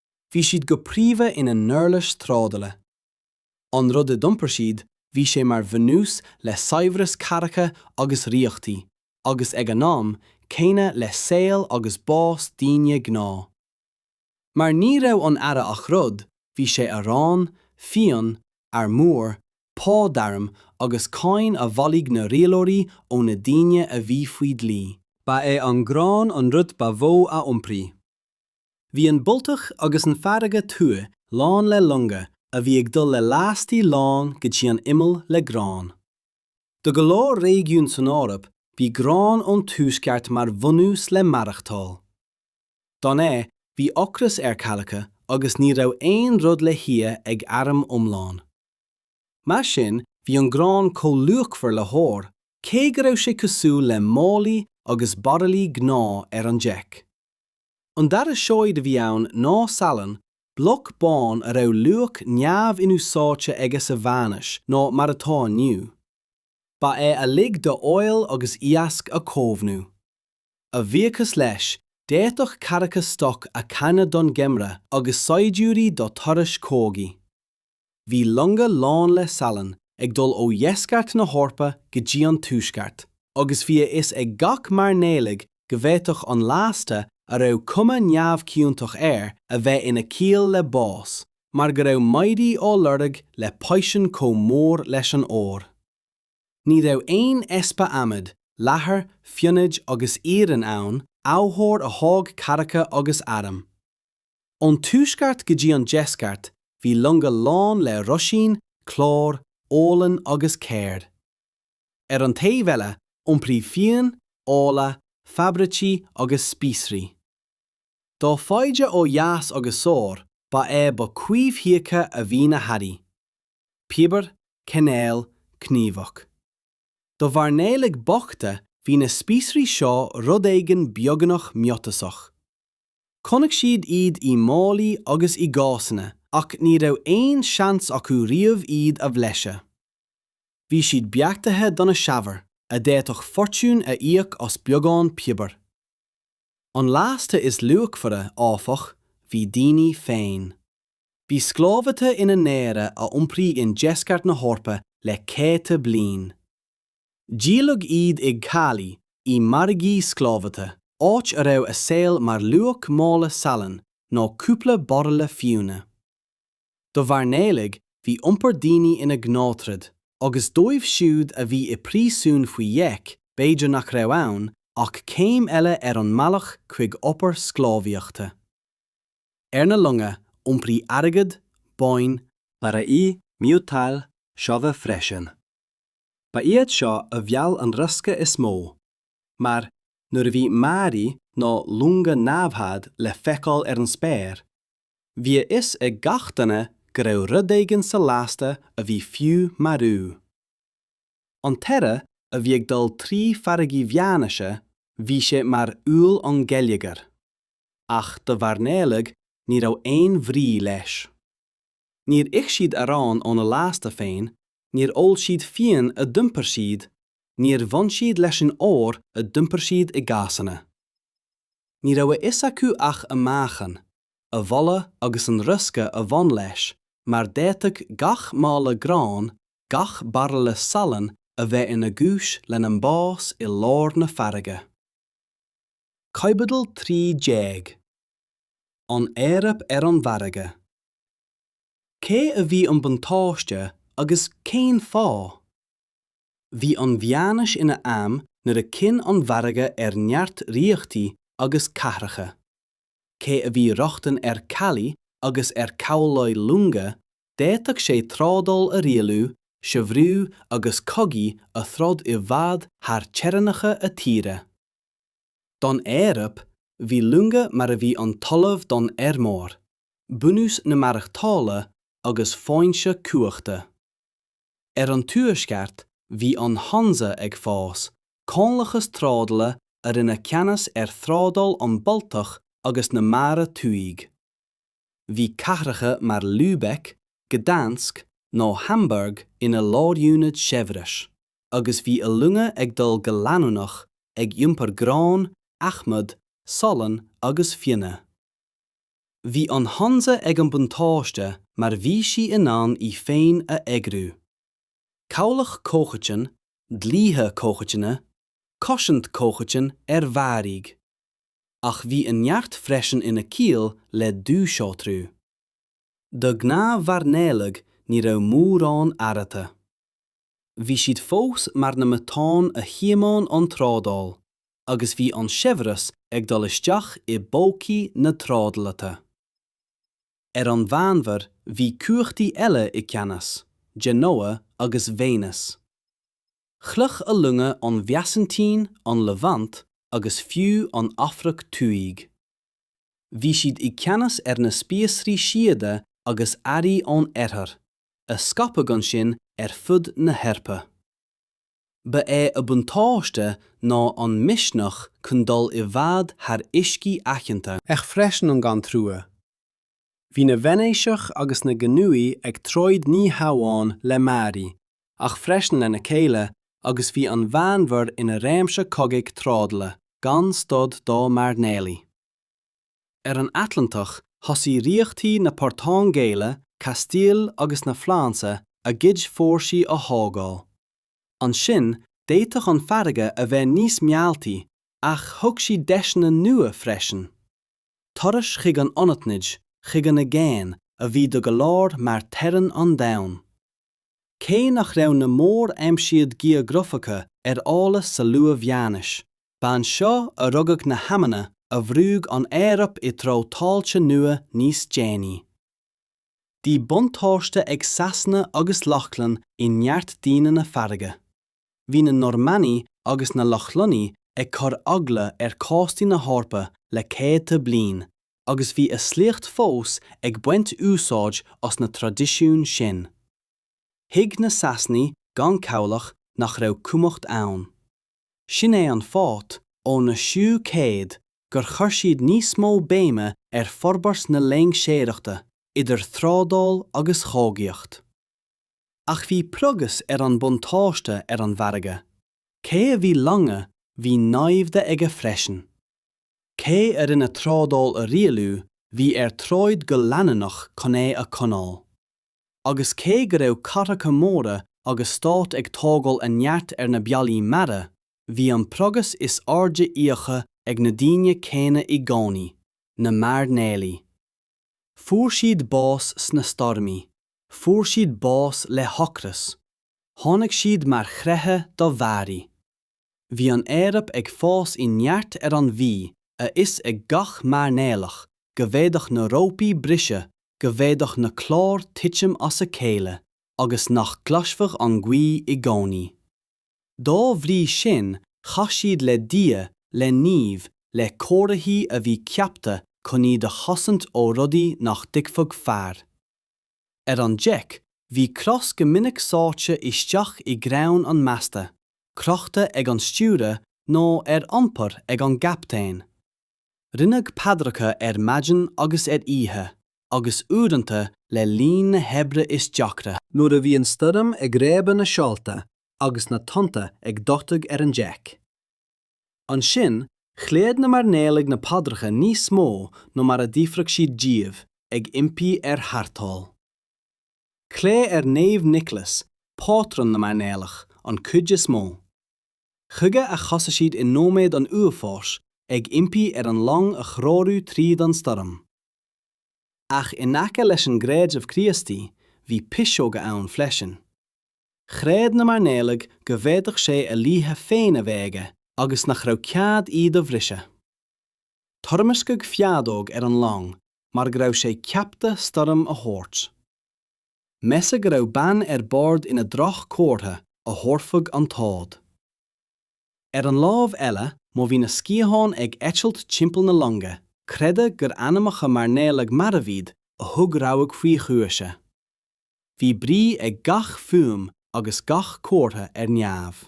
bhí siad go príomha ina n-uirlis trádála. An rud a d'iompair siad, bhí sé mar bhunús le saibhreas cathracha agus ríochtaí, agus ag an am céanna le saol agus bás daoine gnáth. Mar ní raibh an earra ach rud, bhí sé arán, fíon, armúr, pá d'airm agus cáin a bhailigh na rialóirí ó na daoine a bhí faoi dlí. Ba é an grán an rud ba mhó a iompraigh. Bhí an Baltach agus an Fharraige Thuaidh lán le longa a bhí ag dul le lastaí lán go dtí an imeall le grán. Do go leor réigiún san Eoraip bhí grán ón Tuaisceart mar bhunús le maireachtáil. Gan é, bhí ocras ar cathracha agus ní raibh aon rud le hithe ag airm iomlán. Mar sin bhí an grán chomh luachmhar le hór, cé go raibh sé cosúil le málaí agus bairillí gnáth ar an deic. An dara seoid a bhí ann ná salann, bloc bán a raibh luach neamh-inúsáidte aige sa Mheánaois ná mar atá inniu. Ba é a lig do fheoil agus iasc a chaomhnú. A bhuíochas leis, d'fhéadfadh cathracha stoc a charnadh don gheimreadh agus saighdiúirí do thurais chogaidh. Bhí longa lán le salann ag dul ó dheisceart na hEorpa go dtí an tuaisceart, agus bhí a fhios ag gach mairnéalaigh go bhféadfadh an lasta a raibh cuma neamhchiontach air a bheith ina ciall le bás, mar go raibh maidí á lorg le paisean chomh mór leis an ór. Ní raibh aon easpa adhmaid, leathair, fionnaidh agus iarainn ann, amhábhair a thóg cathracha agus airm. Ón tuaisceart go dtí an deisceart bhí longa lán le roisín, clár, olann agus céir. Ar an taobh eile, iompraíodh fíon, ola, fabraicí agus spíosraí. Dá faide ó dheas agus soir, ba é ba coimhthíocha a bhí na hearraí. Piobar, cainéal, cníomhach. Do mhairnéalaigh bochta bhí na spíosraí seo rud éigin beagnach miotasach. Chonaic siad iad i málaí agus i gcásanna ach ní raibh aon seans acu riamh iad a bhlaiseadh. Bhí siad beartaithe do na saibhir a d'fhéadfadh fortún a íoc as beagán piobair. An lasta is luachmhaire, áfach, bhí daoine féin. Bhí sclábhaithe ina n-earra a iompraíodh in deisceart na hEorpa le céadta bliain. Díoladh iad ag calaí, i margaí sclábhaithe, áit a raibh a saol mar luach mála salainn nó cúpla bairille fíona. Do mhairnéalaigh, bhí iompar daoine ina gnáthrud, agus dóibh siúd a bhí i bpríosún faoi dheic, b'fhéidir nach raibh ann ach céim eile ar an mbealach chuig obair sclábhaíochta. Ar na longa, iompraíodh airgead, boinn, barraí miotail, seodha freisin. Ba iad seo a mheall an riosca is mó, mar nuair a bhí maraí nó longa namhad le feiceáil ar an spéir, bhí a fhios ag gach duine go raibh rud éigin sa lasta a bhí fiú marú. An t-earra a bhí ag dul trí farraigí Mheánaoise, bhí sé mar fhuil an geilleagar, ach do mhairnéalaigh ní raibh aon bhrí leis. níor ith siad arán óna lasta féin, níor ól siad fíon a d'iompair siad, níor bhain siad leis an ór a d'iompair siad i gcásanna. Ní raibh a fhios acu ach a meáchan, a bholadh agus an riosca a bhain leis mar d'fhéadfadh gach mála gráin, gach bairille salainn a bheith ina gcúis lena mbás i lár na farraige. Caibidil 13. an Eoraip ar an bhfarraige. Cé a bhí an buntáiste agus cén fáth? Bhí an mheánaois ina am nuair a chinn an bhfarraige ar neart ríochtaí agus cathracha. Cé a bhí rochtain ar calaí agus ar cabhlaigh longa, d'fhéadfadh sé trádáil a rialú, saibhriú agus cogaí a throid i bhfad thar theorainneacha a thíre. don Eoraip, bhí longa mar a bhí an talamh don fheirmeoir, bunús na maireachtála agus foinse cumhachta. Ar an Tuaisceart, bhí an Hansa ag fás, comhlachas trádála a rinne ceannas ar thrádáil an Bhaltach agus na Mara Thuaidh. Bhí cathracha mar Lübeck, Gdansk nó Hamburg ina lárionaid saibhris. agus bhí a longa ag dul go leanúnach ag iompar grán, adhmad, salann agus fionnaidh. Bhí an Hansa ag an buntáiste mar bhí sí in ann í féin a eagrú. Cabhlach comhchoiteann, dlíthe comhchoiteanna, cosaint comhchoiteann ar mharaí. Ach bhí a neart freisin ina ciall le dúshaothrú. Do ghnáthmhairnéalaigh ní raibh mórán athraithe. Bhí siad fós mar na matáin a thiomáin an trádáil agus bhí an saibhreas ag dul isteach i bpócaí na trádálaithe. Ar an Mheánmhuir bhí cumhachtaí eile i gceannas, Genoa agus Venice. Shroich a longa an Bheasaintín, an Levant agus fiú an Afraic Thuaidh. Bhí siad i gceannas ar na spíosraí síoda agus earraí ón oirthear, a scaipeadh ansin ar fud na hEorpa. Ba é a buntáiste ná an misneach chun dul i bhfad thar uiscí aitheanta. Ach freisin an gan trua. Bhí na Veinéiseach agus na Genúigh ag troid ní hamháin le mearaí, ach freisin lena chéile agus bhí an Mheánmhuir ina réimse cogaidh trádála gan stad dá mairnéalaigh. ar an Atlantach thosaigh ríochtaí na Portaingéile, Castile agus na Fraince a gcuid fórsaí a thógáil. Ansin d'fhéadfadh an farraige a bheith níos mealltaí ach thug sí deiseanna nua freisin. Turais chuig an anaithnid, chuig an aigéan, a bhí do go leor mar teorainn an domhain Cé nach raibh na mór-aimsíodh geografacha ar eolas sa luath-mheánaois, ba anseo a rugadh na haidhmeanna a bhrúigh an Eoraip i dtreo tailte nua níos déanaí. Bhí buntáiste ag Sasana agus Lochlann i neart daoine na farraige. bhí na Normannaigh agus na Lochlannaigh ag cur eagla ar chóstaí na hEorpa le céadta bliain agus bhí a sliocht fós ag baint úsáid as na traidisiúin sin. Thuig na Sasanaigh gan cabhlach nach raibh cumhacht ann. Sin é an fáth, ó na seú céad, gur chuir siad níos mó béime ar forbairt na loingseoireachta, idir thrádáil agus chogaíocht. Ach bhí praghas ar an buntáiste ar an bhfarraige. Cé a bhí longa bhí naimhde aige freisin. Cé a rinne trádáil a rialú bhí air troid go leanúnach chun é a choinneáil. Agus cé go raibh cathracha móra agus stáit ag tógáil a neart ar na bealaí mara, bhí an praghas is airde íoctha ag na daoine céanna i gcónaí, na mairnéalaigh. Fuair siad bás sna stoirmí, fuair siad bás le hocras, tháinig siad mar chreiche do mhearaí. Bhí an Eoraip ag fás i neart ar an Bhí a fhios ag gach mairnéalach go bhféadfadh na rópaí briseadh, go bhféadfadh na cláir titim as a chéile agus nach gcloisfeadh an ghaoth i gcónaí. Dá bhrí sin chas siad le Dia, le naoimh, le comharthaí a bhí ceaptha chun iad a chosaint ó rudaí nach dtuigfeadh fear. Ar an deic, bhí cros go minic sáite isteach i gcrann an mheasta, crochta ag an stiúradh nó ar iompar ag an gcaptaen. Rinneadh paidreacha ar maidin agus ar oíche, agus uaireanta le linn na hoibre is deacra. Nuair a bhí an stoirm ag réabadh na seolta agus na tonnta ag doirteadh ar an deic. Ansin, ghlaodh na mairnéalaigh na paidreacha níos mó ná mar a d'fhiafraigh siad díobh, ag impí ar tharrtháil. Glaodh ar Naomh Nicholas, pátrún na mairnéalach, an chuid is mó. Chuige a chasadh siad i nóiméad an uafáis, ag impí ar an long a threorú tríd an stoirm. Ach in aice leis an gcreideamh Críostaí, bhí piseoga ann freisin. Chreid na mairnéalaigh go bhféadfadh sé a dhlíthe féin a bheith aige agus nach raibh cead iad a bhriseadh. Toirmisceadh feadóg ar an long mar go raibh sé ceapta stoirm a thabhairt. Measadh go raibh bean ar bord ina droch comhartha a thabharfadh an t-ádh. Ar an lámh eile, má bhí na sciatháin ag eitilt timpeall na longa, creideadh gur anamacha mairnéalaigh marbh iad a thug rabhadh faoi ghuaise. Bhí brí ag gach fuaim agus gach comhartha ar neamh.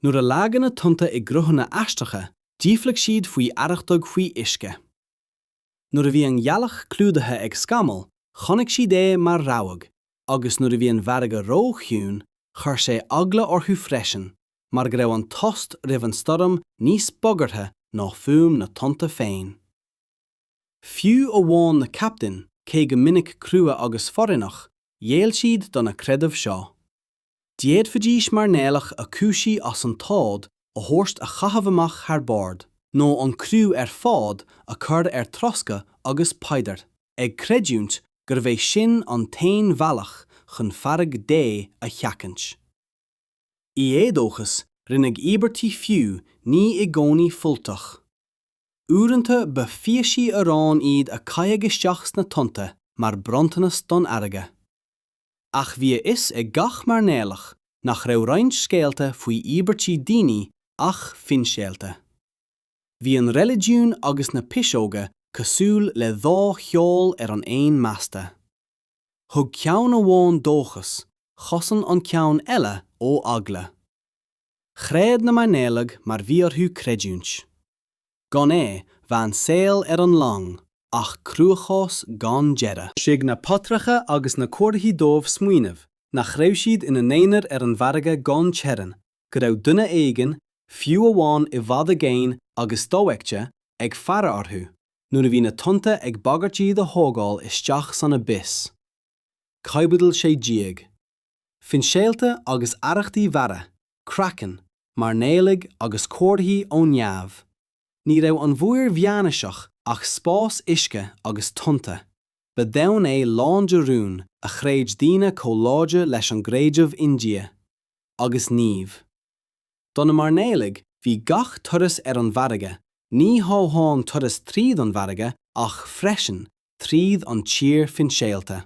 Nuair a leagadh na tonnta i gcruthanna aisteacha, d'fhiafraigh siad faoi arrachtaigh faoi uisce. Nuair a bhí an ghealach clúdaithe ag scamaill, chonaic siad é mar rabhadh, agus nuair a bhí an fharraige róchiúin, chuir sé eagla orthu freisin, mar go raibh an tost roimh an stoirm níos bagartha ná fuaim na dtonnta féin. Fiú amháin na captaein, cé go minic crua agus foréigneach, ghéill siad do na creidimh seo. D'fhéadfaidís mairnéalach a cúisíodh as an t-ádh a thabhairt a chaitheamh amach thar bord, nó an criú ar fad a chur ar troscadh agus paidir ag creidiúint gurbh é sin an t-aon bhealach chun fearg Dé a sheachaint. I éadóchas, rinneadh íobairtí fiú ní i gcónaí fuilteach. Uaireanta ba phíosaí aráin iad a caitheadh isteach sna tonnta mar bhronntanas don fharraige. ach bhí a fhios ag gach mairnéalach nach raibh roinnt scéalta faoi íobairtí daoine ach finscéalta. Bhí an reiligiún agus na piseoga cosúil le dhá sheol ar an aon masta. Thug ceann amháin dóchas, chosain an ceann eile ó eagla. Chreid na mairnéalaigh mar bhí orthu creidiúint. gan é bheadh an saol ar an long ach cruachás gan deireadh. Lig na paidreacha agus na comharthaí dóibh smaoineamh nach raibh siad ina n-aonar ar an bhfarraige gan teorainn, go raibh duine éigin, fiú amháin i bhfad i gcéin agus dofheicte, ag faire orthu nuair a bhí na tonnta ag bagairt iad a thógáil isteach san abyss. Caibidil 16. finscéalta agus arrachtaí mhara, Kraken, mairnéalaigh agus comharthaí ó neamh. Ní raibh an mhuir mheánaoiseach ach spás uisce agus tonnta, ba dhomhan é lán de rúin a chreid daoine chomh láidir leis an gcreideamh i nDia. Agus naoimh. Do na mairnéalaigh, bhí gach turas ar an bhfarraige, ní hamháin turas tríd an bhfarraige ach freisin tríd an tír finscéalta.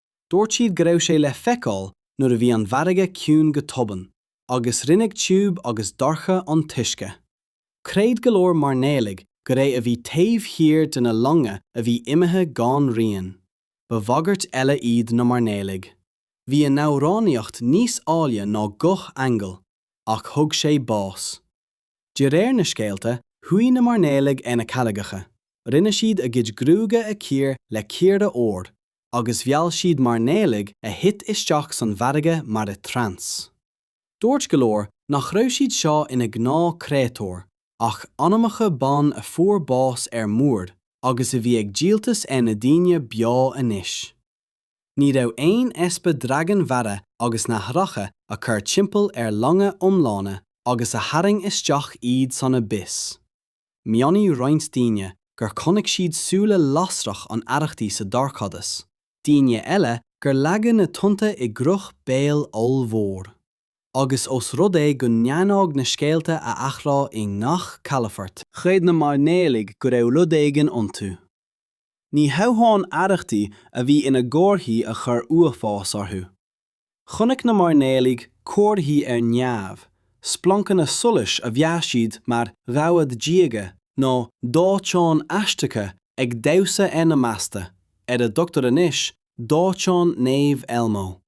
Dúirt siad go raibh sé le feiceáil nuair a bhí an bhfarraige ciúin go tobann agus rinneadh tiubh agus dorcha an t-uisce. Chreid go leor mairnéalaigh gur é a bhí taobh thiar de na longa a bhí imithe gan rian. Ba bhagairt eile iad na mairnéalaigh. Bhí a n-amhránaíocht níos áille ná guth aingeal, ach thug sé bás. De réir na scéalta, shuigh na mairnéalaigh ar na carraigeacha, rinne siad a gcuid gruaige a chíor le cíora óir, agus mheall siad mairnéalaigh a thit isteach san bhfarraige mar i dtrance. Dúirt go leor nach raibh siad seo ina ngnáth créatúir, ach anamacha ban a fuair bás ar muir agus a bhí ag díoltas ar na daoine beo anois. Ní raibh aon easpa dragain mhara agus nathracha a chur timpeall ar longa iomlána agus a tharraing isteach iad san abyss. Mhionnaigh roinnt daoine gur chonaic siad súile lasrach an arrachtaí sa dorchadas, daoine eile gur leagadh na tonnta i gcruth béil ollmhór. Agus os rud é go ndearnádh na scéalta a athrá i ngach calafort, chreid na mairnéalaigh go raibh rud éigin iontu. Ní hamháin arrachtaí a bhí ina gcomharthaí a chuir uafás orthu. Chonaic na mairnéalaigh comharthaí ar neamh, splancanna solais a mheas siad mar rabhadh diaga nó dóiteáin aisteacha ag damhsa ar na masta, ar a dtugtar anois Dóiteán Naomh Elmo.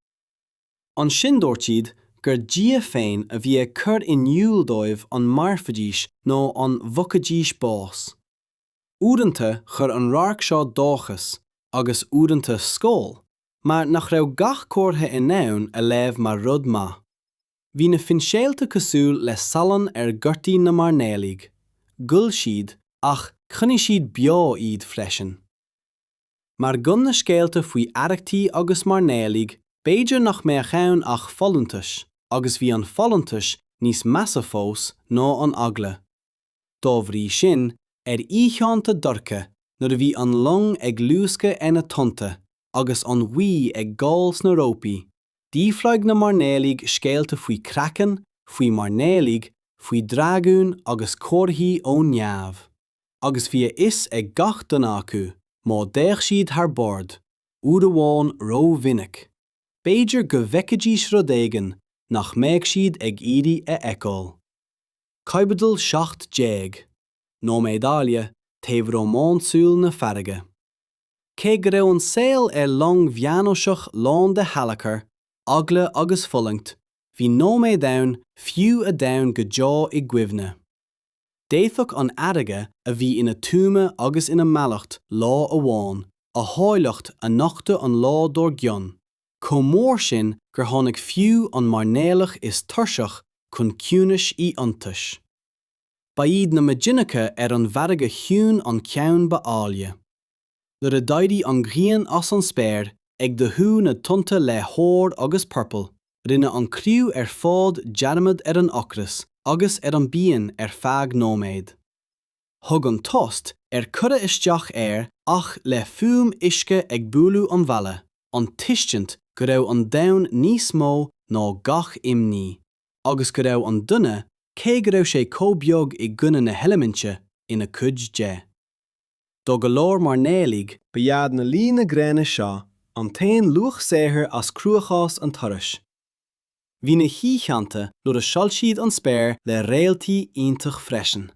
Ansin dúirt siad gur Dia féin a bhí ag cur in iúl dóibh an mairfidís nó an bhfaighidís bás. Uaireanta chuir an radharc seo dóchas agus uaireanta scaoll mar nach raibh gach comhartha in ann a léamh mar rud maith. Bhí na finscéalta cosúil le salann ar ghortaí na mairnéalaigh, ghoill siad ach choinnigh siad beo iad freisin. Mar gan na scéalta faoi arrachtaí agus mairnéalaigh b'fhéidir nach mbeadh ann ach folúntais agus bhí an folúntas níos measa fós ná an eagla. Dá bhrí sin, ar oícheánta dorcha nuair a bhí an long ag luascadh ar na tonnta agus an ghaoth ag gabháil sna rópaí, d'fhiafraigh na mairnéalaigh scéalta faoi kraken, faoi mhairnéalaigh, faoi dhragúin agus comharthaí ón neamh, agus bhí a fhios ag gach duine acu, má d'fhéach siad thar bord, uair amháin ró-mhinic, b'fhéidir go bhfeicfidís rud éigin nach mbeadh siad ag iarraidh a fheiceáil. Caibidil 17, Nóiméid áille taobh rómánsúil na farraige. Cé go raibh an saol ar long mheánaoiseach lán de shalachar, eagla agus fulaingt, bhí nóiméid ann fiú a d'fhan go deo i gcuimhne. D'fhéadfadh an fharraige a bhí ina tuama agus ina mallacht lá amháin, a háilleacht a nochtadh an lá dár gcionn. chomh mór sin gur tháinig fiú an mairnéalach is tuirseach chun ciúnais is iontais. Ba iad na maidineacha ar an bhfarraige chiúin an ceann ba áille. Nuair a d'éirigh an ghrian as an spéir, ag dathú na tonnta le hór agus purple, rinne an criú ar fad dearmad ar an ocras agus ar an bpian ar feadh nóiméad. thug an tost ar cuireadh isteach air ach le fuaim uisce ag bualadh an bhalla, an tuiscint go raibh an domhan níos mó ná gach imní, agus go raibh an duine, cé go raibh sé chomh beag i gcoinne na heiliminte, ina cuid de. Do go leor mairnéalaigh, ba iad na luí na gréine seo an t-aon luach saothair as cruachás an turais Bhí na hoícheanta nuair a shoilsigh an spéir le réaltaí iontach freisin.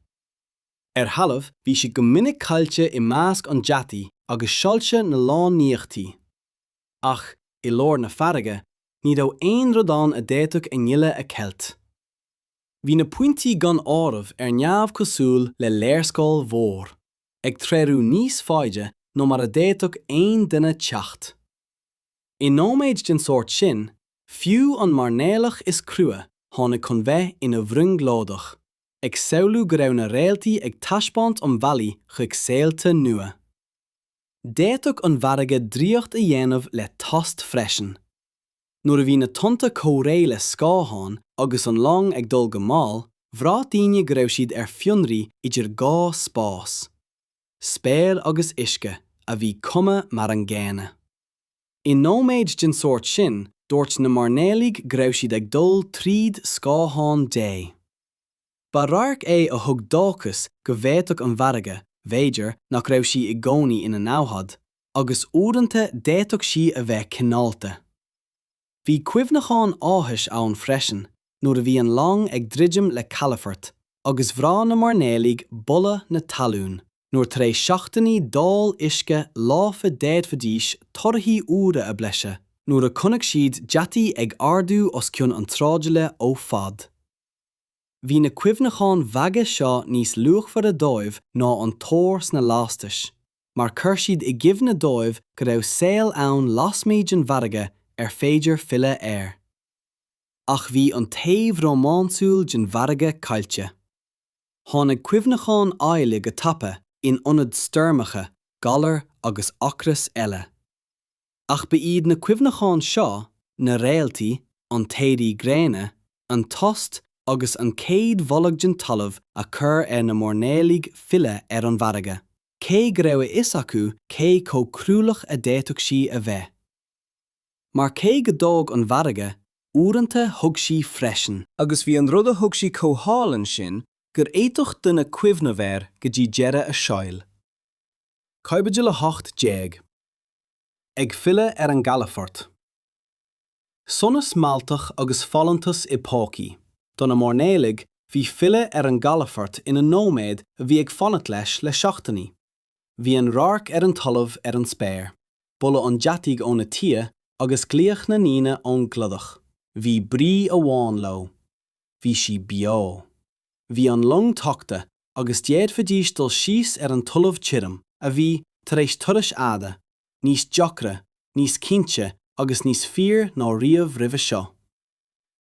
Ar thalamh, bhí siad go minic caillte i measc an deataigh agus soilse na lonnaíochtaí. Ach, i lár na farraige, ní raibh aon rud ann a d'fhéadfadh a ngile a cheilt. Bhí na pointí gan áireamh ar neamh cosúil le léarscáil mhór, ag treorú níos faide ná mar a d'fhéadfadh aon duine teacht. I nóiméid den sórt sin, fiú an mairnéalach is crua tháinig chun bheith ina bhrionglóideach. ag samhlú go raibh na réaltaí ag taispeáint an bhealaigh chuig saolta nua. D'fhéadfadh an fharraige draíocht a dhéanamh le tost freisin. Nuair a bhí na tonnta comhréidh le scáthán agus an long ag dul go mall, bhraith daoine go raibh siad ar fionraí idir dhá spás. Spéir agus uisce, a bhí cuma mar an gcéanna. I nóiméid den sórt sin, dúirt na mairnéalaigh go raibh siad ag dul tríd scáthán Dé. Ba radharc é a thug dóchas go bhféadfadh an fharraige, b'fhéidir nach raibh sí i gcónaí ina namhaid, agus uaireanta d'fhéadfadh sí a bheith cineálta. Bhí cuimhneacháin áthais ann freisin nuair a bhí an long ag druidim le calafort agus bhraith na mairnéalaigh boladh na talún. nuair tar éis seachtainí d'ól uisce lofa d'fhéadfaidís torthaí úra a bhlaiseadh nuair a chonaic siad deatach ag ardú os cionn an tsráidbhaile ó fhad. Bhí na cuimhneacháin bheaga seo níos luachmhaire dóibh ná an t-ór sna lastais, mar chuir siad i gcuimhne dóibh go raibh saol ann lasmuigh den bhfarraige ar féidir filleadh air. Ach bhí an taobh rómánsúil den bhfarraige caillte. Tháinig cuimhneacháin áille go tapa in ionad stoirmeacha, galar agus ocras eile. Ach ba iad na cuimhneacháin seo, na réaltaí, an t-éirí gréine, an tost agus an chéad bholadh den talamh a chuir ar na mairnéalaigh filleadh ar an bhfarraige, cé go raibh a fhios acu cé chomh cruálach a d'fhéadfadh sí a bheith. mar cé go dtóg an fharraige, uaireanta thug sí freisin. Agus bhí an rud a thug sí chomh hálainn sin gur fhéadfadh duine cuimhneamh air go dtí deireadh a shaoil. Caibidil 18. Ag filleadh ar an gcalafort. Sonas mealltach agus folúntas i bpócaí. Do na mairnéalaigh, bhí filleadh ar an gcalafort ina nóiméad a bhí ag fanacht leis le seachtainí. Bhí an radharc ar an talamh ar an spéir, boladh an deataigh óna tighe agus glaoch na ndaoine ón gcladach. Bhí brí amháin leo. Bhí sí beo. Bhí an long tagtha agus d'fhéadfaidís dul síos ar an talamh tirim a bhí, tar éis turais fhada, níos deacra, níos cinnte agus níos fíor ná riamh roimhe seo.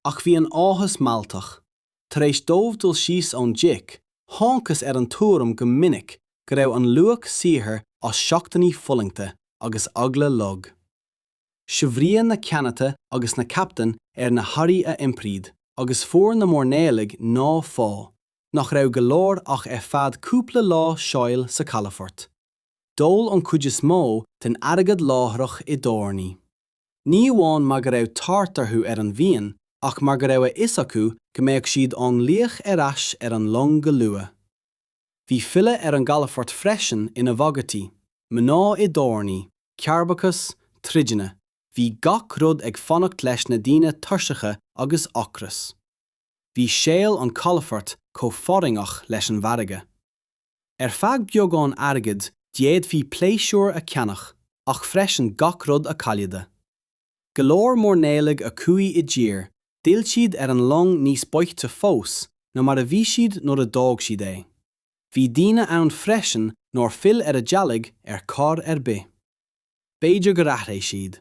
ach bhí an t-áthas mealltach. Tar éis dóibh dul síos ón deic, thángthas ar an tuairim go minic go raibh an luach saothair as seachtainí fulaingte agus eagla lag. Shaibhríodh na ceannaithe agus na captaein ar na hearraí a iompraíodh, agus fuair na mairnéalaigh an pá, nach raibh go leor ach ar feadh cúpla lá saoil sa chalafort. D'ól an chuid is mó den airgead láithreach i dtábhairní. ní amháin mar go raibh tart orthu ar an bhfíon ach mar go raibh a fhios acu go mbeadh siad á nglaoch ar ais ar an long go luath. Bhí filleadh ar an gcalafort freisin ina bhagairtí, mná i dtábhairní, cearrbhachas, troideanna, bhí gach rud ag fanacht leis na daoine tuirseacha agus ocras. Bhí saol an chalafoirt chomh fealltach leis an bhfarraige. Ar feadh beagán airgid d'fhéadfaí pléisiúr a cheannach ach freisin gach rud a chailleadh. Go leor mairnéalaigh a chuaigh i dtír, d'fhill siad ar an long níos boichte fós ná mar a bhí siad nuair a d'fhág siad é. Bhí daoine ann freisin nár fhill ar a dteaghlaigh ar chor ar bith. bith. B'fhéidir gur athraigh siad.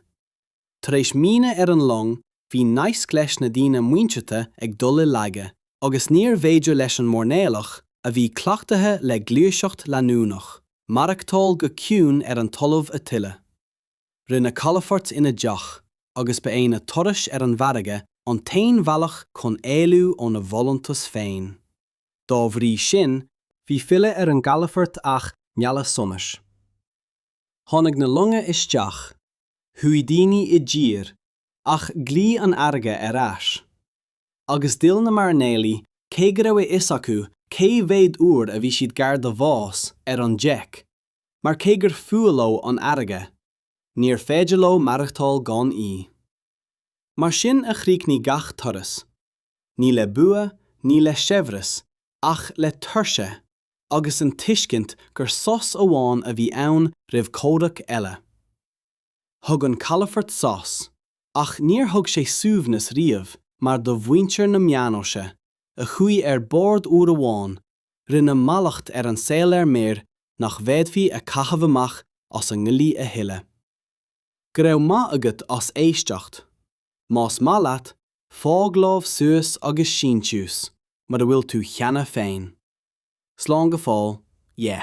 Tar éis míonna ar an long bhí naisc leis na daoine muinteartha ag dul i laige agus níorbh fhéidir leis an mairnéalach, a bhí cleachtaithe le gluaiseacht leanúnach, maireachtáil go ciúin ar an talamh a thuilleadh. Rinneadh calafort ina dteach agus ba é na turais ar an bhfarraige an t-aon bhealach chun éalú óna bhfolúntas féin. Dá bhrí sin. Bhí filleadh ar an gcalafort ach mealladh sonais. Tháinig na longa isteach, chuaigh daoine i dtír, ach ghlaoigh an fharraige ar ais. Agus d'fhill na mairnéalaigh cé go raibh a fhios acu cé mhéad uair a bhí siad gar do bhás ar an deic, mar cé gur fuath leo an fharraige, níorbh fhéidir leo maireachtáil gan í. Mar sin a chríochnaigh gach turas. ní le bua, ní le saibhreas, ach le tuirse agus an tuiscint gur sos amháin a bhí ann roimh chomhrac eile. Thug an calafort sos, ach níor thug sé suaimhneas riamh mar do mhuintir na meánaoise, a chuaigh ar bord uair amháin, rinneadh mallacht ar an saol ar muir nach bhféadfaí a chaitheamh amach as a gcroí a thuilleadh. Go raibh maith agat as éisteacht. Más maith leat, fág lámh suas agus síntiús mura bhfuil tú cheana féin. Slán go fóill, yeah.